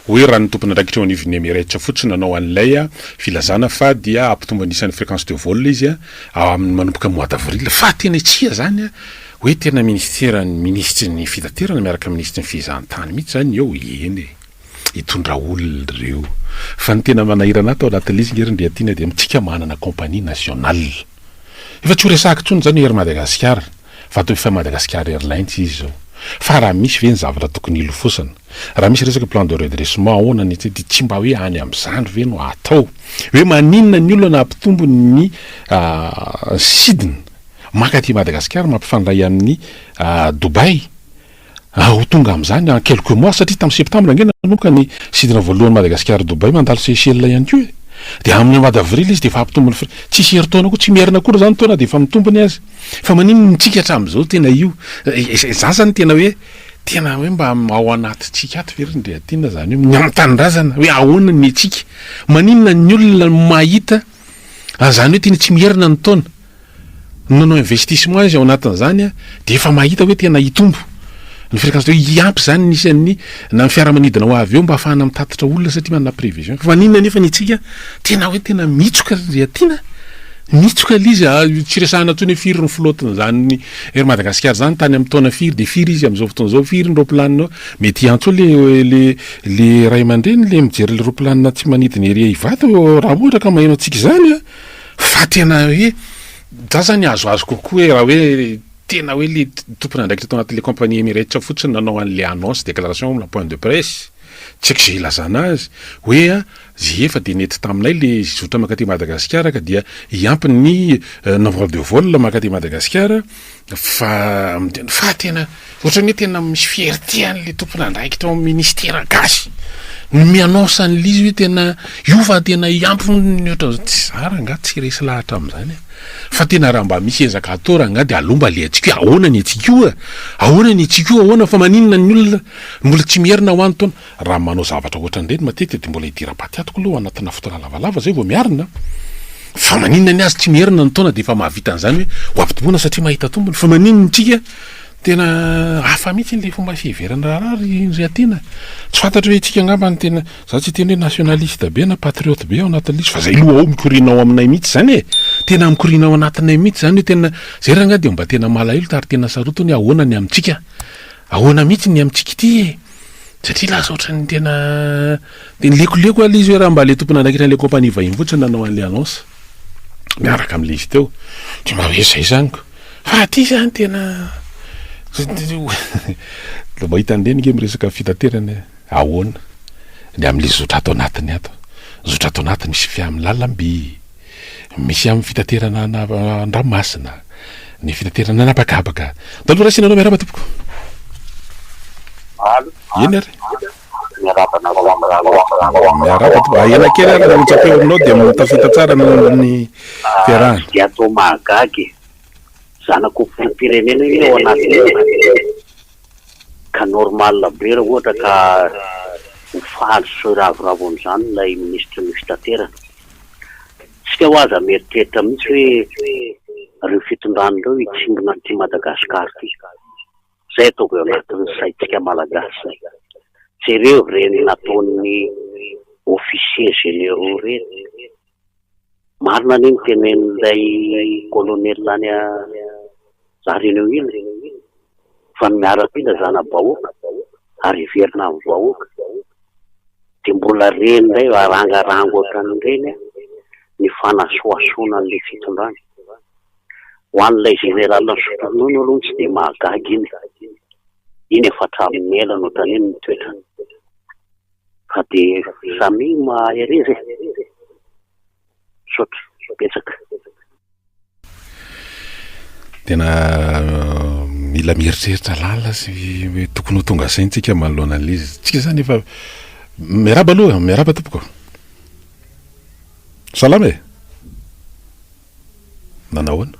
hoe raha ny tompon'andraikitra eo anivon'ny Emirates fotsiny nanao an'ilay a filazana fa dia hampitombo ny isan'ny fréquence de vol izy a amin'ny manomboka mois d'avril fa tena tsia zany a hoe tena minisiteran'ny minisitry ny fitaterana miaraka minisitry ny fehezantany mihitsy zany eo eny e. hitondra olona ireo. Fa ny tena manahirana ahy tao anatin'ilay izy nge ry Ndriatiana dia amintsika manana compagnie nationale. Efa tsy ho resahiko intsony izany hoe Air Madagascar fa atao efa Madagascar Airlines izy izao. Fa raha misy ve ny zavatra tokony hilofosana? Raha misy resaka plan de redressement ahoana ny aty dia tsy mba hoe any amin'izany ve no atao? Hoe maninona ny olona nampitombo ny sidina mankaty Madagascar mampifandray amin'ny Dubaï? Ah ho tonga amin'izany en quelques mois satria tamin'ny septembre ange nanomboka ny sidina voalohan'i Madagasikara Dubaï mandalo Seychelles ihany koa e! dia amin'ny mois d'avril izy dia efa hampitombo ny frais, tsisy herintaona koa, tsy miherina akory izany ny taona dia efa mitombo ny azy fa maninn no mitsiky hatramin'izao tena io za zany tena hoe tena hoe mba ao anatintsika ato ve ry Ndriatiana izany hoe ny amin'ny tanindrazana hoe ahoana ny antsika maninona ny olona mahita Ary izany hoe tena tsy miherina ny taona. Ny manao investissement izy ao anatin'izany dia efa mahita hoe tena hitombo ny fréquence de hiampy izany ny isan'ny na ny fiaramanidina ho avy eo mba hahafahana mitatitra olona satria manana prévision. Fa maninona nefa ny antsika tena hoe tena mitsoka ry Riatiana a! Mitsoka ilay izy a! Tsy resahana intsony hoe firy ny flotte-n'izany Air Madagasikara izany, tany amin'ny taona firy dia firy izy amin'izao fotoana izao, firy ny raopilanina, mety hiantso eo ilay, ilay. Le ray aman-dreny le mijery le roplanina tsy manidina ery ivato raha ohatra ka maheno antsika izany a fa tena hoe za zany azoazo kokoa hoe raha hoe tena hoe le tompon'andraikitra tao anatin'le compagnie Emirates fotsiny nanao an'le annonce déclaration na point de presse tsy haiko ze ilazana azy hoe a. Zay efa dia nety taminay ilay zotra mankaty Madagasikara ka dia hiampy ny nombre de vol mankaty Madagasikara fa fa tena ohatran'ny hoe tena misy fierté an'ilay tompon'andraikitra ao amin'ny ministera gasy ny mi-annonce an'ilay izy hoe tena io fa tena hiampy ny ohatran'izany tsy za rangaha tsy resy lahatra amin'izany e fa tena raha mba misy ezaka atao rangaha dia aleo mba alehantsika hoe ahoana ny antsika io e ahoana ny antsika io ahoana fa maninona ny olona mbola tsy miherina ho any taona Raha manao zavatra ohatran'ireny matetika dia mbola hidira-paty atoko aloha anatina fotoana lavalava izay vao miarina. Fa maninona ny azy tsy miherina ny taona dia efa mahavita an'izany hoe ho ampitoboina satria mahita tombony? Fa maninona ny tsika? Tena hafa mihitsy ilay fomba fiheveran'ny raharaha ry ry Atiana. Tsy fantatro hoe tsika angamba no tena, za tsy hiteny hoe nationaliste be na patriote be ao anatin'ilay izy fa zay loha ao mikoriana ao aminay mihitsy zany e! Tena mikoriana ao anatinay mihitsy zany hoe tena, zay rangahy dia mba tena malahelo tary tena sarotiny hoe ahoana ny amintsika? Ahoana mihitsy ny amintsika ity e! Satria lasa ohatran'ny tena dia lekoleko ilay izy hoe raha mba ilay tompon'andraikitra an'ilay kaompania vahiny fotsiny nanao an'ilay annonce miaraka amin'ilay izy teo dia mba hoe izay izany ko fa aty izany tena dia mba hitan'ny reniko hoe miresaka fitaterana e! ahoana ny amin'ilay zotra ato anatiny ato? zotra ato anatiny misy fiamin'ny lalamby. Misy amin'ny fitaterana an-dranomasina ny fitaterana an'habakabaka. Taloha raisina anao miarahaba tompoko. Eny ary. Miarahaba anareo amin'izany. Miarahaba tompoko. Ahena kely ary raha hotsapeo aminao dia mahatafita tsara ny ny fiarahana. Dia atao mahagaga e! Zanako filoham-pirenena io ao anatin'io ka normal be raha ohatra ka ho faly sy hoe ravoravo amin'izany ilay minisitry ny fitaterana. Tsika hoa aza mieritreritra mihitsy hoe ireo fitondrana ireo hitsimbina an'ity Madagascar ity. Izay ataovy ao anatin'ny saintsika Malagasy. Jereo ireny nataon'ny officiers généraux ireny. Marina anie ny tenenin'ilay colonel any. Za renao iny fa ny miaramila zanabahoaka ary hiverina amin'ny vahoaka dia mbola reny indray va rangarango ohatran'ireny a ny fanasohasoana an'ilay fitondrana. Ho an'ilay général misotro ronono aloha tsy dia mahagaga iny e, iny efa hatramin'ny ela no taniny ny toetrany fa dia samia mahereza e. Misaotra betsaka. Tena mila mieritreritra lalina sy hoe tokony ho tonga saintsika manoloana an'izy. Tsika zany efa miaraba aloha, miaraba tompoko. Salama e. Nanahoana?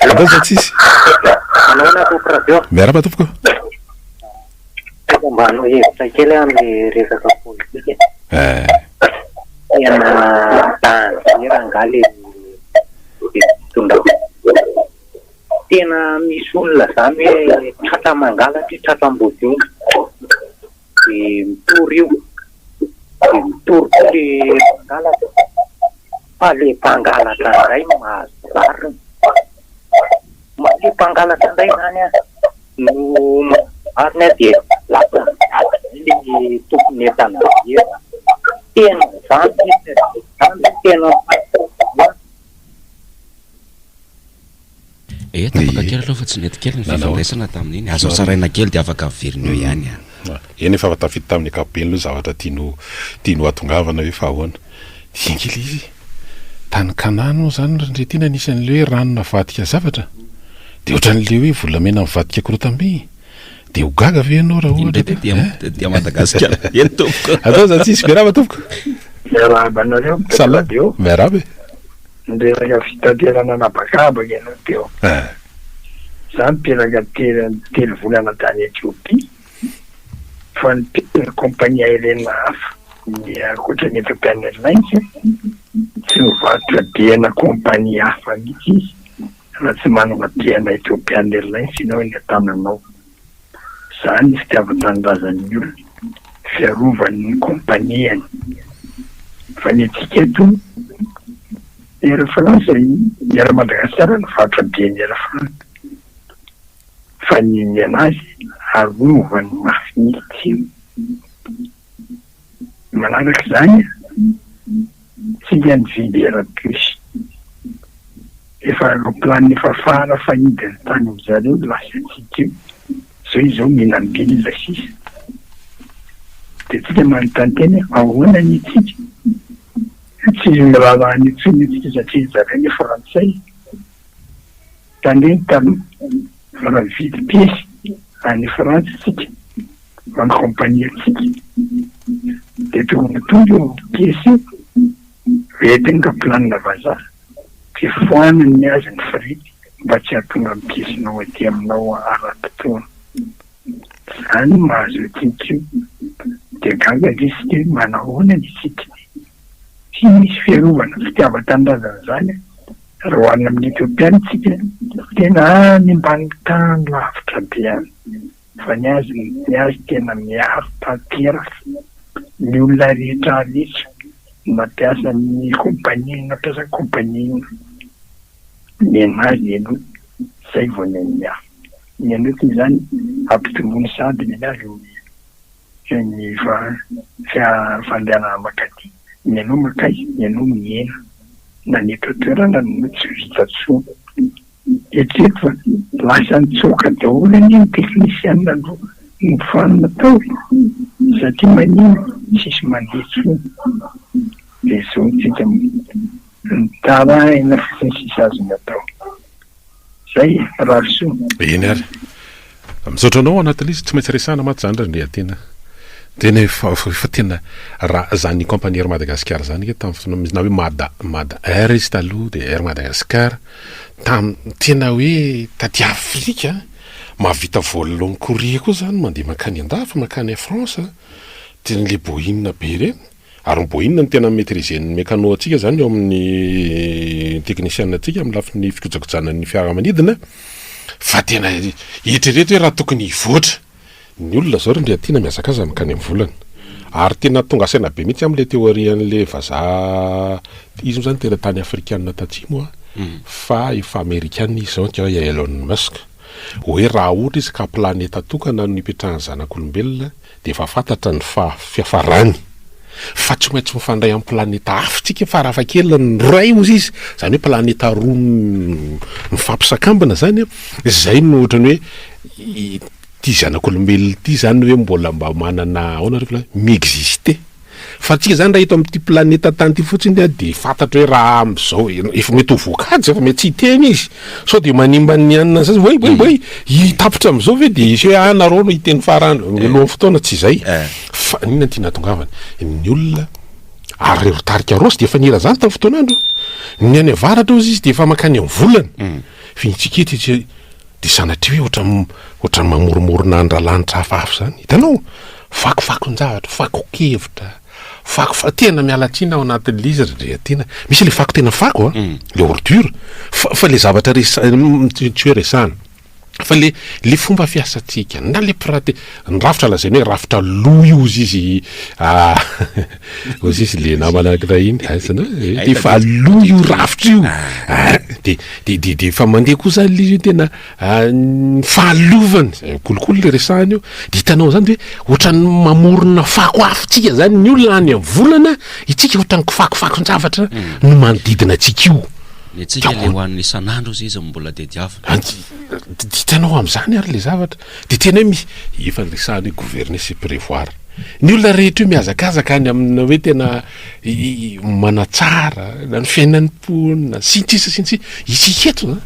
Andao izao tsisy. Manahoana tompoko radio. Miarahaba tompoko o. Tokony mba hanao hevitra kely aho amin'ny resaka politika e. Eh. Tena dangereux angaha le fitondrana. Tena misy olona zany hoe tratra mangalatra, tratra ambodiomby. de mitory io de mitory koa le mpangalatra fa le mpangalatra ndray no mahazo rariny fa le mpangalatra ndray zany an no mahazo rariny de lasa miady be le tompon' entana be an, tena zany le tena tena. Ee, tapaka kely aloha fa tsy nety kely ny fifandraisana tamin'iny, aza hotsaraina kely dia afaka averina eo ihany an. Eny efa tafita tamin'ny ankapobeny aloha ny zavatra tiany tiany hohatongavana ve fa ahoana? Dinika ilay izy e! Tany Kanana moa izany ry Ndry Tiana nisy an'ilay hoe rano navadika zavatra? Dia ohatran'ilay hoe volamena mivadika korotam-by? Dia ho gaga ve ianao raha ohatra ka e? Indray dia Madagasikara be ny tompoko. Atao izany tsisy be nama tompoko. Miarahaba anareo mpitatitra radio. Miarahaba e. Nireraka fitaterana an'habakabaka ianao teo. Izaho niteraka terany telo volana tany Ethiopia, fa niteraka compagnie aérienne hafa, ny ankoatra ny Ethiopian Airlines, tsy mivarotra bihena compagnie hafa mihitsy izy raha tsy manana bihena Ethiopian Airlines ianao eny an-tananao. Izany ny fitiavan-tanindrazan'ny olona, fiarovan'ny kompaniany. Fa ny antsika eto, Air France, Air Madagascar no varotra be an'i Air France. Fa ny niaina azy, arovany mafy mihitsy. Manaraka izany, tsika nividy Airbus, efa aeroplanina efa fara fahidiny tany amin-dry zareo no lasantsika io, izao izy izao mila milina sisa. Dia tsika manontany tena hoe ahoana ny antsika? Tsy miraharaha an'io intsony isika satria ry zareo anie frantsay. Mpanenta mividy piesy any Frantsa isika, manao compagnie antsika, dia tonga tonga io piesy io, dia entina ka planina vazaha, dia foanany azy ny frais mba tsy hahatonga ny piesinao aty aminao ara-potoana. Izany no mahazo antsika io, dia gaga ange isika hoe manahoana ny antsika? Tsy misy fiarovana fitiavan-tanindrazana izany raha ho any amin'ny Ethiopiana isika. Tena any ambany tany lavitra be any fa ny azy ny azy tena miaro tanteraka ny olona rehetra rehetra na mpiasa ny compagnie na mpiasa compagnie inona ny an'azy aloha izay vao ny an'ny hafa. Ny an'io toy izany ampitomboiny sahady ny an'azy ny Geneva tsy hahavanganana mankaty, mialoha mankaiza, mialoha mihena, na ny eto an-toerana no tsy vita tsony. Eritrereto fa lasa nitsoaka daholo anie ny teknisianina no nofoanina tao e! satria maninona tsisy mandeha tsony dia zao tsika mitaraina fotsiny tsisy azony atao. Zay Rahasoa. Eny ary. Misaotra anao Anatalisa, tsy maintsy resahana mantsy zany raha ndray tena tena efa efa tena raha zany compagnie Air Madagascar zany nge tamin'ny fotoana misy na hoe Mada Mada Air izy taloha dia Air Madagascar tamin'ny tena hoe taty Afrika mahavita vol long courrier koa zany mandeha mankany andafy mankany France tena le Boeing be ireny. Ary mbo inona no tena mi maitriser ny mecano antsika izany eo amin'ny technician antsika amin'ny lafiny fikojakojana ny fiaramanidina fa tena eritrereto hoe raha tokony hivoatra ny olona izao ry Ndriatiana mihazakaza mankany amin'ny volana ary tena tonga saina be mihitsy aho amin'ilay théorie an'ilay vazaha izy moa izany tena tany afrikana tatsimo fa efa amerikana izy izao ange i Elon Musk hoe raha ohatra izy ka planeta tokana no hipetrahan'ny zanak'olombelona dia efa fantatra ny fiafarany fa tsy maintsy mifandray amin'ny planeta hafa isika farafahakeliny ny iray ozy izy izany hoe planeta roa mifampisakambina izany an, izay no ohatran'ny hoe ity zanak'olombelona ity izany ve mbola mba manana ahoana ry reto lahy mi-exister. Fa antsika izany raha eto amin'ity planeta tany ity fotsiny dia dia fantatra hoe raha amin'izao efa mety ho voakajy efa mety tsy hiteny izy sao dia manimba ny anona an'izay voay boay boay hitapitra amin'izao ve dia hisy hoe ah nareo no hiteny farany eh. mialohan'ny fotoana tsy izay eh. fa inona ity natongavany ny olona ary reo tarika rosy dia efa nira zany tamin'ny fotoan'andro ny any avaratra ozy izy dia efa makany amin'ny volana mm. fintsika ety Dia sanatria hoe ohatran'ny, ohatran'ny mamoromorona andralanitra hafahafa izany. Hitanao? Fakofakon-javatra, fakon-kevitra, fako fa, tena miala tsiny ao anatin'ilay izy ry Andriatiana. Misy ilay fako tena fako an! Ilay ordure. Fa, fa ilay zavatra resa, tsy hoe resahana. Fa ilay, ilay fomba fiasantsika, na ilay pratika. Ny rafitra lazainy hoe rafitra loha io ozy izy ah ozy izy le namana anankiray iny ah, aizana hoe eh, efa loha io rafitra io ah, de de de de efa mandeha koa zany le izy tena ah, ny fahalovany zay kolikoly le resahany io de hitanao zany de hoe ohatran'ny mamorona fako afontsika zany ny olona any amin'ny volana itsika ohatran'ny kifakofakon-javatra hmm. no manodidina antsika io le tsika le ho an'ny isan'andro izy izy mbola de diavina hitanao amin'izany ary le zavatra Dia tena hoe mi, efa niresahana hoe gouverner c'est prévoir. Ny olona rehetra io mihazakazaka any amina hoe tena manatsara na ny fiainan'ny mponina sy ny sisa sy ny sisa. Isika eto an,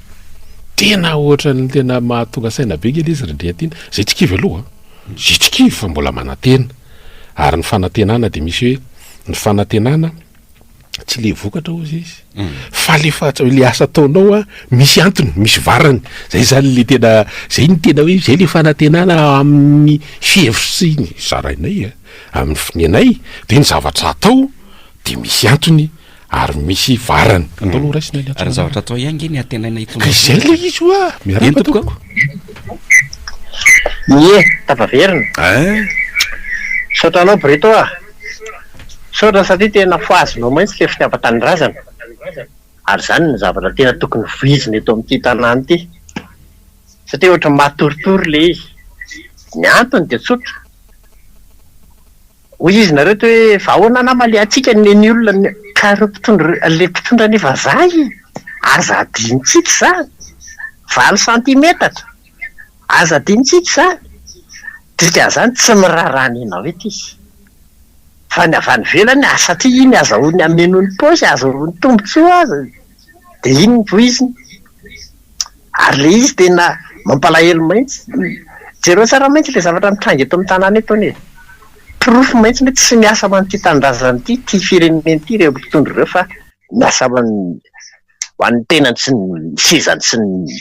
tena ohatran'ny tena mahatonga saina be nge le izy ry Andriantina. Zay tsy kivy aloha, zay tsy kivy fa mbola manantena. Ary ny fanantenana dia misy hoe ny fanantenana tsy le vokatra ozy izy fa le fahatsa le asa ataonao a misy antony misy varany zay zany le tena zay ny tena hoe zay le fanatenana amin'ny fihevitsy ny zarainay a amin'ny finenay de ny zavatra atao de misy antony ary misy varany mm. atao aloha raisina ny ary ny zavatra atao ihany nge ny atenaina itony izay le izy oa miaraka tompoko ie tafaverina eh? saotra anao breto a Misaotra satria tena fohazinao mantsy ilay fitiavan-tanindrazana ary izany no zavatra tena tokony vohizina eto amin'ity tanàna ity satria ohatran'ny matoritory ilay izy. Ny antony dia tsotra, hoy izy nareo toa hoe fa ahoana anà malehantsika ny ny olona ka ireo mpitondra ilay mpitondra anie vazaha e! aza hadinontsika izany, valo santimetatra! Aza adinontsika izany, dikan'izany tsy miraharaha ny anao eto izy, fa ny avy any ivelany ary satria iny azahoany hameno ny paosy, ahazoany tombontsoa aza dia iny ny voiziny. Ary ilay izy tena mampalahelo mihitsy, jereo tsara mihitsy ilay zavatra mitranga eto amin'ny tanàna eto anie e! Porofo mihitsy hoe tsy miasa ho an'ity tanindrazana ity, ity firenena ity ireo mpitondra ireo fa miasa ho an'ny tenany sy ny sezany sy ny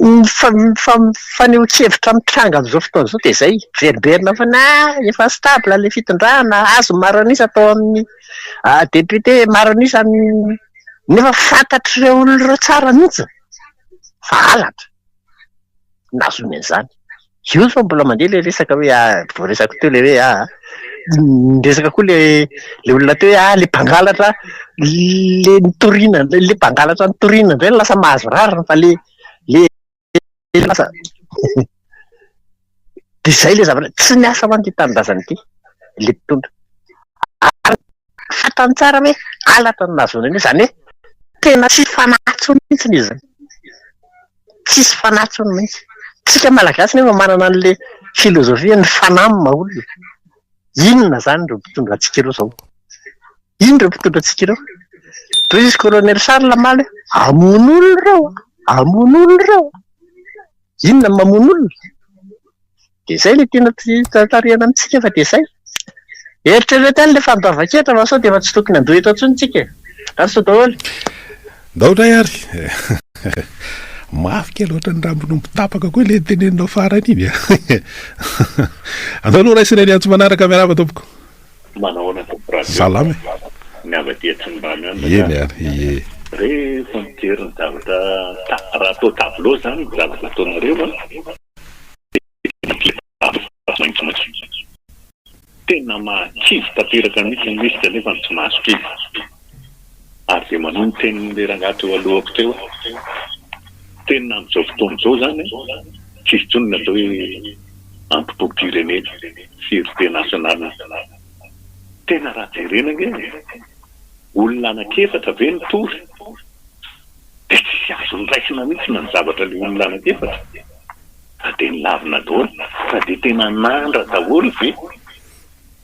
Ny fanehoan-kevitra mitranga amin'izao fotoana izao dia izay, miverina foana, ah, efa stable ilay fitondrana, azony maro an'isa atao amin'ny député, maro an'isa amin'ny, nefa fantatr'ireo olona ireo tsara mihitsy fa halatra no nahazoany an'izany. Io efa mbola mandeha ilay resaka hoe ah, voaresako teo ilay hoe ah, niresaka koa ilay ilay olona teo hoe ah ilay mpangalatra ilay nitoriana indray, ilay mpangalatra nitoriana indray no lasa mahazo rariny fa ilay ilay lasa dia izay ilay zavatra, tsy niasa hoan'ity tanindrazana ity ilay mpitondra. Fantany tsara hoe halatra ny nahazoany an'io, izany hoe tena tsisy fanahy intsony mihitsy izy izany. Tsisy fanahy intsony mihitsy. Tsika Malagasy nefa manana an'ilay filozofia hoe ny fanahy no maha olona. Inona izany ireo mpitondra antsika ireo izao? Inona ireo mpitondra antsika ireo? Toy izy Kolonely Charles omaly hoe hamono olona ireo, hamono olona ireo. Inona no mamono olona? Dia izay ilay tiana tarihina amintsika fa dia izay. Eritrereto ihany ilay fandoavan-ketra fa sao dia efa tsy tokony handoa eto intsony tsika e. Lasa daholo. Ndao indray ary e. Mafy kely ohatran'ny rambon'omby tapaka koa ilay teneninao farany iny a. Andao aloha raisina ny antso manaraka miarahaba tompoko. Manao ahoana tompoko radio. Salama e. Ny avy aty Atsimondrano ihany ny Eny ary ie. Rehefa mijery ny zavatra raha atao tableau izany ny zavatra ataonareo a. Tena mahakivy tanteraka mihitsy ny lisitra nefa ny tsy mahazo kivy. Ary dia manohy ny tenin'ilay rangahy teo alohako teo aho. Tena amin'izao fotoana izao izany an, tsy hisy intsony ny atao hoe antipom-pirenena, fierté nationale. Tena raha jerena ange, olona anankiefatra ve no tory? dia tsy azony raisina mihitsy na ny zavatra ilay olona anankiefatra fa dia nilavina daholo, fa dia tena nandra daholo ve?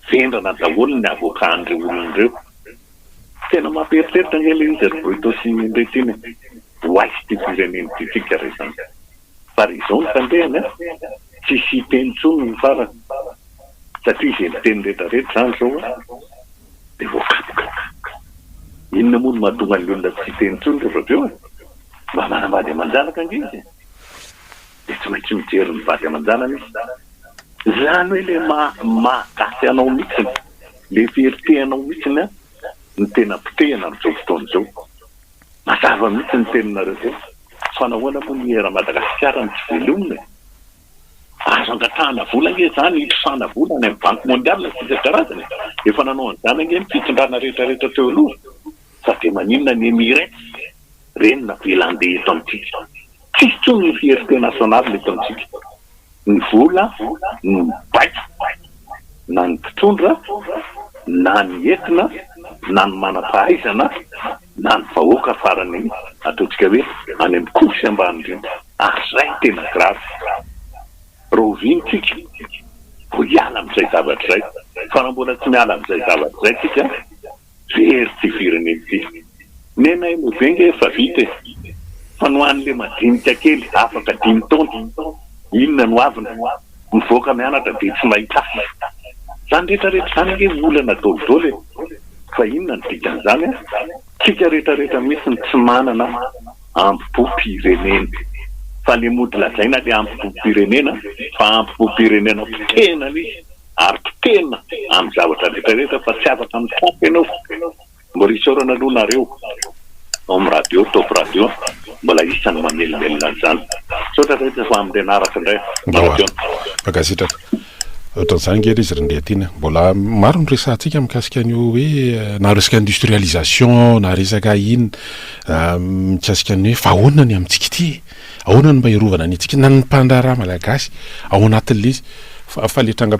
vendrana daholo ny avocat an'ireo olona ireo, tena mampieritreritra ange ilay izy ry Bruto sy Ndritiny e! ho aiza ity firenena ity tsika re zany? fa re izao no tandrehany an! tsisy hiteny intsony ny farany satria izay miteny retraretra izany izao an! Dia voafantina. Inona moa no mahatonga ny olona tsy hiteny intsony rehefa avy eo e? Mba manambady aman-janaka ange izy e! Dia tsy maintsy mijery ny vady aman-janany izy. Izany hoe ilay maha gasy anao mihitsiny, ilay very te anao mihitsiny no tena potehina amin'izao fotoana izao. Mazava mihitsy ny teninareo zay fa nahoana moa ny eran'i Madagasikara no tsy velomina e? Azo angatahana vola ange izany hitrosana vola any amin'ny banky mondiale sy isan-karazany e! Efa nanao an'izany ange ny fitondrana rehetra rehetra teo aloha fa dia maninona ny Emirates ireny navelan-deha eto amintsika? Tsisy intsony ny fierté nationale eto amintsika. Ny vola no mibaiko na ny mpitondra na ny entona na ny manam-pahaizana. na ny vahoaka farany ataontsika hoe any amin'ny couche ambany indrindra ary izay no tena grave rahoviana tsika vao hiala amin'izay zavatra izay fa raha mbola tsy miala amin'izay zavatra izay tsika very ity firenena ity nena eny be nge efa vita e fa ny ho an'le madinika kely afaka dimy taona inona no aviny Mivoaka mianatra dia tsy mahita asa. Izany rehetra rehetra izany ange olana dôly dôly e! Fa inona no dikan'izany an? Tsika rehetra rehetra mihitsy no tsy manana ambobopirenena. Fa le mody lazaina le ambobopirenena fa ambobopirenena potehina le izy ary potehina amin'ny zavatra rehetra rehetra fa tsy afaka mitafy ianao. Mbola isaorana aloha nareo ao amin'ny radio, top radio mbola isany mamelomelona an'izany. Misaotra rehetra fa amin'ny renaratra indray manam-peona. Mankasitraka. Ohatran'izany nge ilay izy ry Ndriatiana. Mbola maro ny resahantsika mikasika an'io hoe na resaka industrialisation na resaka inona mikasika ny hoe fa ahoana ny amintsika ity e? Ahoana ny mba hiarovana ny antsika na ny mpandraharaha malagasy ao anatin'ilay izy fa ilay tranga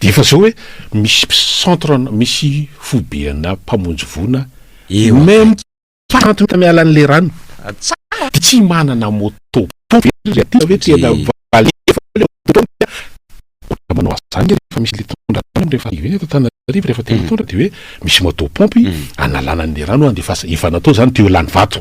Dia efa zao hoe misy centre misy foibe ana mpamonjy voina eo même pas trente minutes miala an'ilay rano dia tsy manana moto pompe ve ry aty ve tena valeo ve le moto pompe a manao an'izany ve rehefa misy le mpitondra rano rehefa arrivé ny eto Antananarivo rehefa te mitondra dia hoe misy moto pompe analana an'ilay rano handefasana efa natao izany tuyau lany vato.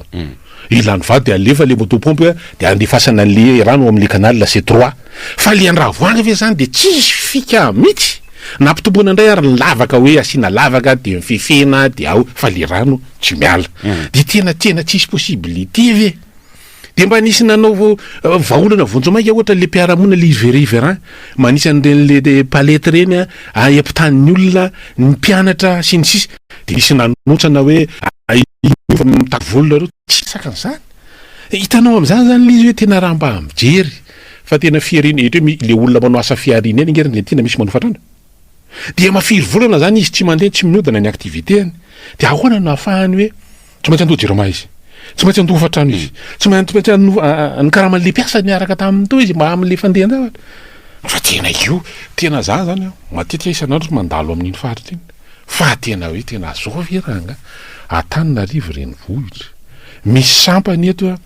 Ilany vary dia alefa le moto pompe dia andefasana anle rano ao amle canal la c'est trois fa le andravoahangy ve zany dia tsisy fika mitsy na ampitomboina ndray ary ny lavaka hoe asiana lavaka dia mifefena dia ao fa le rano tsy miala dia tena tena tsisy possibilité ve dia mba nisy nanao vahaolana vonjy maika ohatra le mpiaramonina le izy riverain manisa an'ireny le palette ireny a ampitanin'ny olona ny mpianatra sy ny sisa Dia nisy nanontsana hoe, Aia fa mitaky volo nareo? Tsy hisaka an'izany. Hitanao amin'izany izany ilay izy hoe tena raha mba mijery fa tena fihariana, ohatra hoe ilay olona manao asa fihariana eny ange Argentine misy manofa trano. Dia mafiry volana izany izy tsy mandeha, tsy mihodina ny activité-ny. Dia ahoana no ahafahany hoe. Tsy maintsy handoa jirama izy. Tsy maintsy handoa hofantrano izy. Tsy maintsy handoa ny karaman'ilay mpiasa niaraka taminy teo izy mba amin'ilay fandehan-javatra. Fa tena io, tena za zany an, matetika isan'andro tsy mandalo amin'iny faritra iny. Fa tena hoe tena zao ve ranga? Antananarivo renivohitra. Misy sampany eto an,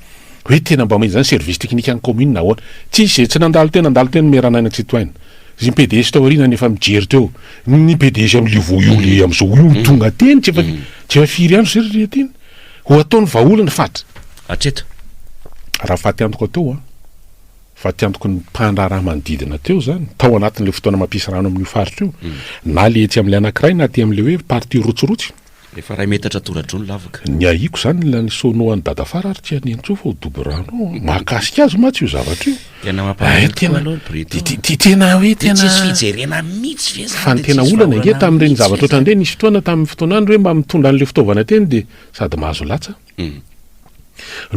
hoe tena mba mila izany service technique an'ny commune ahoana. Tsy izay tsy nandalo teo nandalo teo ny maire Naina Tsitohaina. Ry PDG tao aoriana nefa mijery teo ny PDG am le vao io le amzao io tonga teny tsy efa tsy efa firy andro zay ry ry Teny ho ataony vahaolana fatra hatreto. Raha fatiantoka teo an, fatiantoky ny mpandraharaha manodidina teo zany, tao anatin'ilay fotoana mampisy rano amin'io faritra io, na le etsy amin'ilay anankiray na aty amin'ilay hoe partie rotsirotsy. Efa iray metatra toradroa ny lavaka. Ny ahiako izany ilay nisaonao an'i Dadafara ary tsy hanentsoa fa ho dobo rano ao an! Mahakasika azy mantsy io zavatra io. Tena mampalahelo tokoa aloha ny Briton an! Dia tena hoe tena. Dia tsisy fijerena mihitsy ve izany? Fa ny tena olana ange tamin'ireny zavatra ohatran'ireny dia nisy fotoana tamin'ny fotoanany hoe mba mitondra an'ilay fitaovana teny dia sady mahazo latsa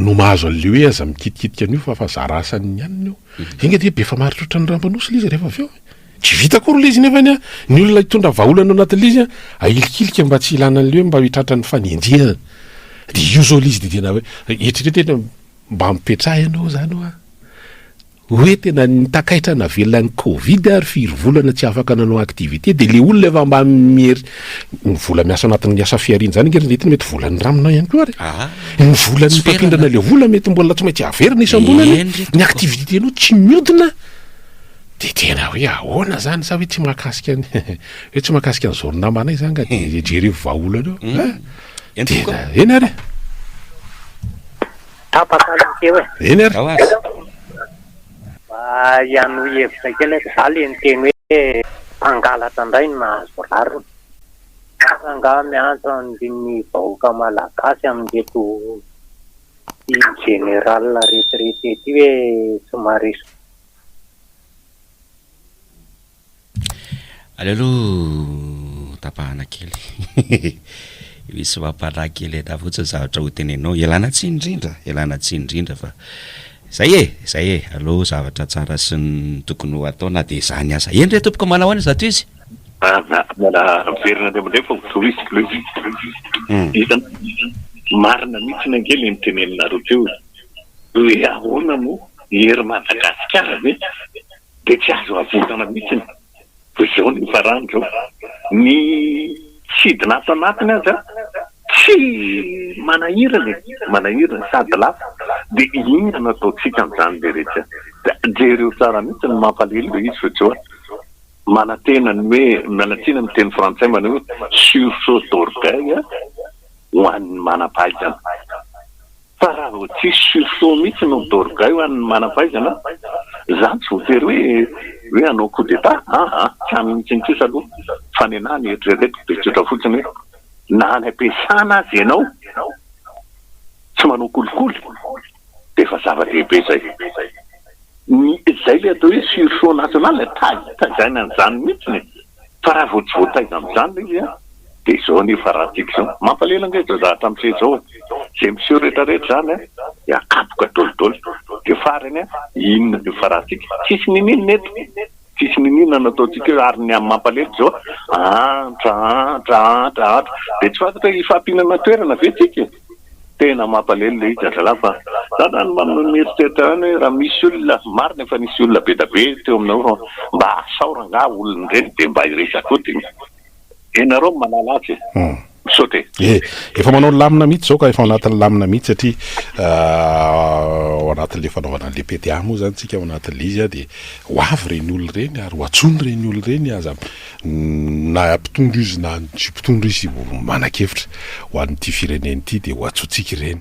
no mahazo an'ilay hoe aza mikitikitika an'io fa fa zara asany ihany io. Enga dia be famaritra ohatran'ny rampan'osy ilay izy rehefa avy eo e! Tsy vita akory ilay izy nefa ny ahy, ny olona hitondra vahaolana ao anatin'ilay izy an, ahilikilika mba tsy hilana an'ilay hoe mba ho tratran'ny fanenjehana. Dia io izao ilay izy dia tena hoe, eritrereto hoe mba ampipetraha ianao izany hoa, hoe tena takaitra navelona ny covid ary firy volana tsy afaka nanao activité dia ilay olona efa mba mieri, ny vola miasa ao anatin'ny asa fihariana izany ange ry Nety mety volan'ny ranonao ihany koa ary ny volan'ny mpampindrana ilay vola mety mbola tsy maintsy averina isam-bolana, ny activité-nao tsy mihodina. Dia tena hoe ahoana zany sa hoe tsy mahakasika an hoe tsy mahakasika an'izao ry namanay zany ka dia jereo vahaolana eo a! Eny tompoko a! Tena eny ary e! Tapaka nareo e! Eny ary! Ao aza! Mba hianohy hevitra kely aho, za le niteny hoe mpangalatra indray no nahazo rariny. Aza angaha miantso ny vahoaka malagasy amin'ireto ity général retiraités ity hoe tsy maharesy. Aleo aloha tapahana kely misy mampalaky kely ena fotsiny ny zavatra ho tenenao. Ialana tsiny indrindra, ialana tsiny indrindra fa zay e, zay e, aleo zavatra tsara sy ny tokony ho atao na dia zany aza. Eny re tompoko manao ahoana izato izy? Aza miala miverina indray mandeha fa ho tohizo le izy. Marina mihitsy ny ange le niteneninareo teo e. hoe ahoana moa ny hery Madagasikara ve dia tsy azo avotana mihitsy e! Fa izao no hifarany izao, ny sidina ato anatiny aza tsy manahirana e! manahirana sady lafo dia inona no ataontsika amin'izany le rehetra? Jereo tsara mihitsy ny mampalahelo le izy fa izao a! manantena ny hoe, miala tsiny amin'ny teny frantsay manao hoe sursaut d'orgueil ho an'ny manam-pahaizana. Fa raha vao tsisy sursaut mihitsy no midorgaio ho an'ny manam-pahaizana, izany tsy voatery hoe hoe hanao coup d'Etat aa, tsy any mihitsy ny kosa aloha fa ny anahy ny eritreretiko dia tsotra fotsiny hoe na any am-piasana aza ianao tsy manao kolikoly dia efa zava-dehibe izay. Ny izay ilay atao hoe sursaut national, tajaina an'izany mihitsy e! Fa raha vao tsy voataiza amin'izany ilay izy an, dia izao anie fa raha tiako izao, mampalahelo ange izao zavatra miseho izao e, izay miseho rehetra rehetra izany an, dia akapoka dol dol, dia farany an, inona anie fa raha tiako, tsisy niniana eto, tsisy niniana no ataontsika eo, ary ny mampalahelo izao an, antra antra antra antra, dia tsy fantatra hoe hifampinana toerana ve tsika e? Tena mampalelo ilay izy zazalahy fa za zany mba mieritreritra ihany hoe raha misy olona, marina efa nisy olona be dia be teo aminareo fa mba asaora angaha olona ireny dia mba hiresaka koa dia ianareo no manala azy e. Misaotra e. E, efa manao lamina mihitsy izao ka, efa ao anatin'ny lamina mihitsy satria ao anatin'ilay fanaovana an'ilay PDA moa izany isika ao anatin'ilay izy dia ho avy ireny olona ireny ary ho antsoina ireny olona ireny, aza, Na mpitondra izy na tsy mpitondra izy manan-kevitra ho an'ity firenena ity dia ho antsointsika ireny.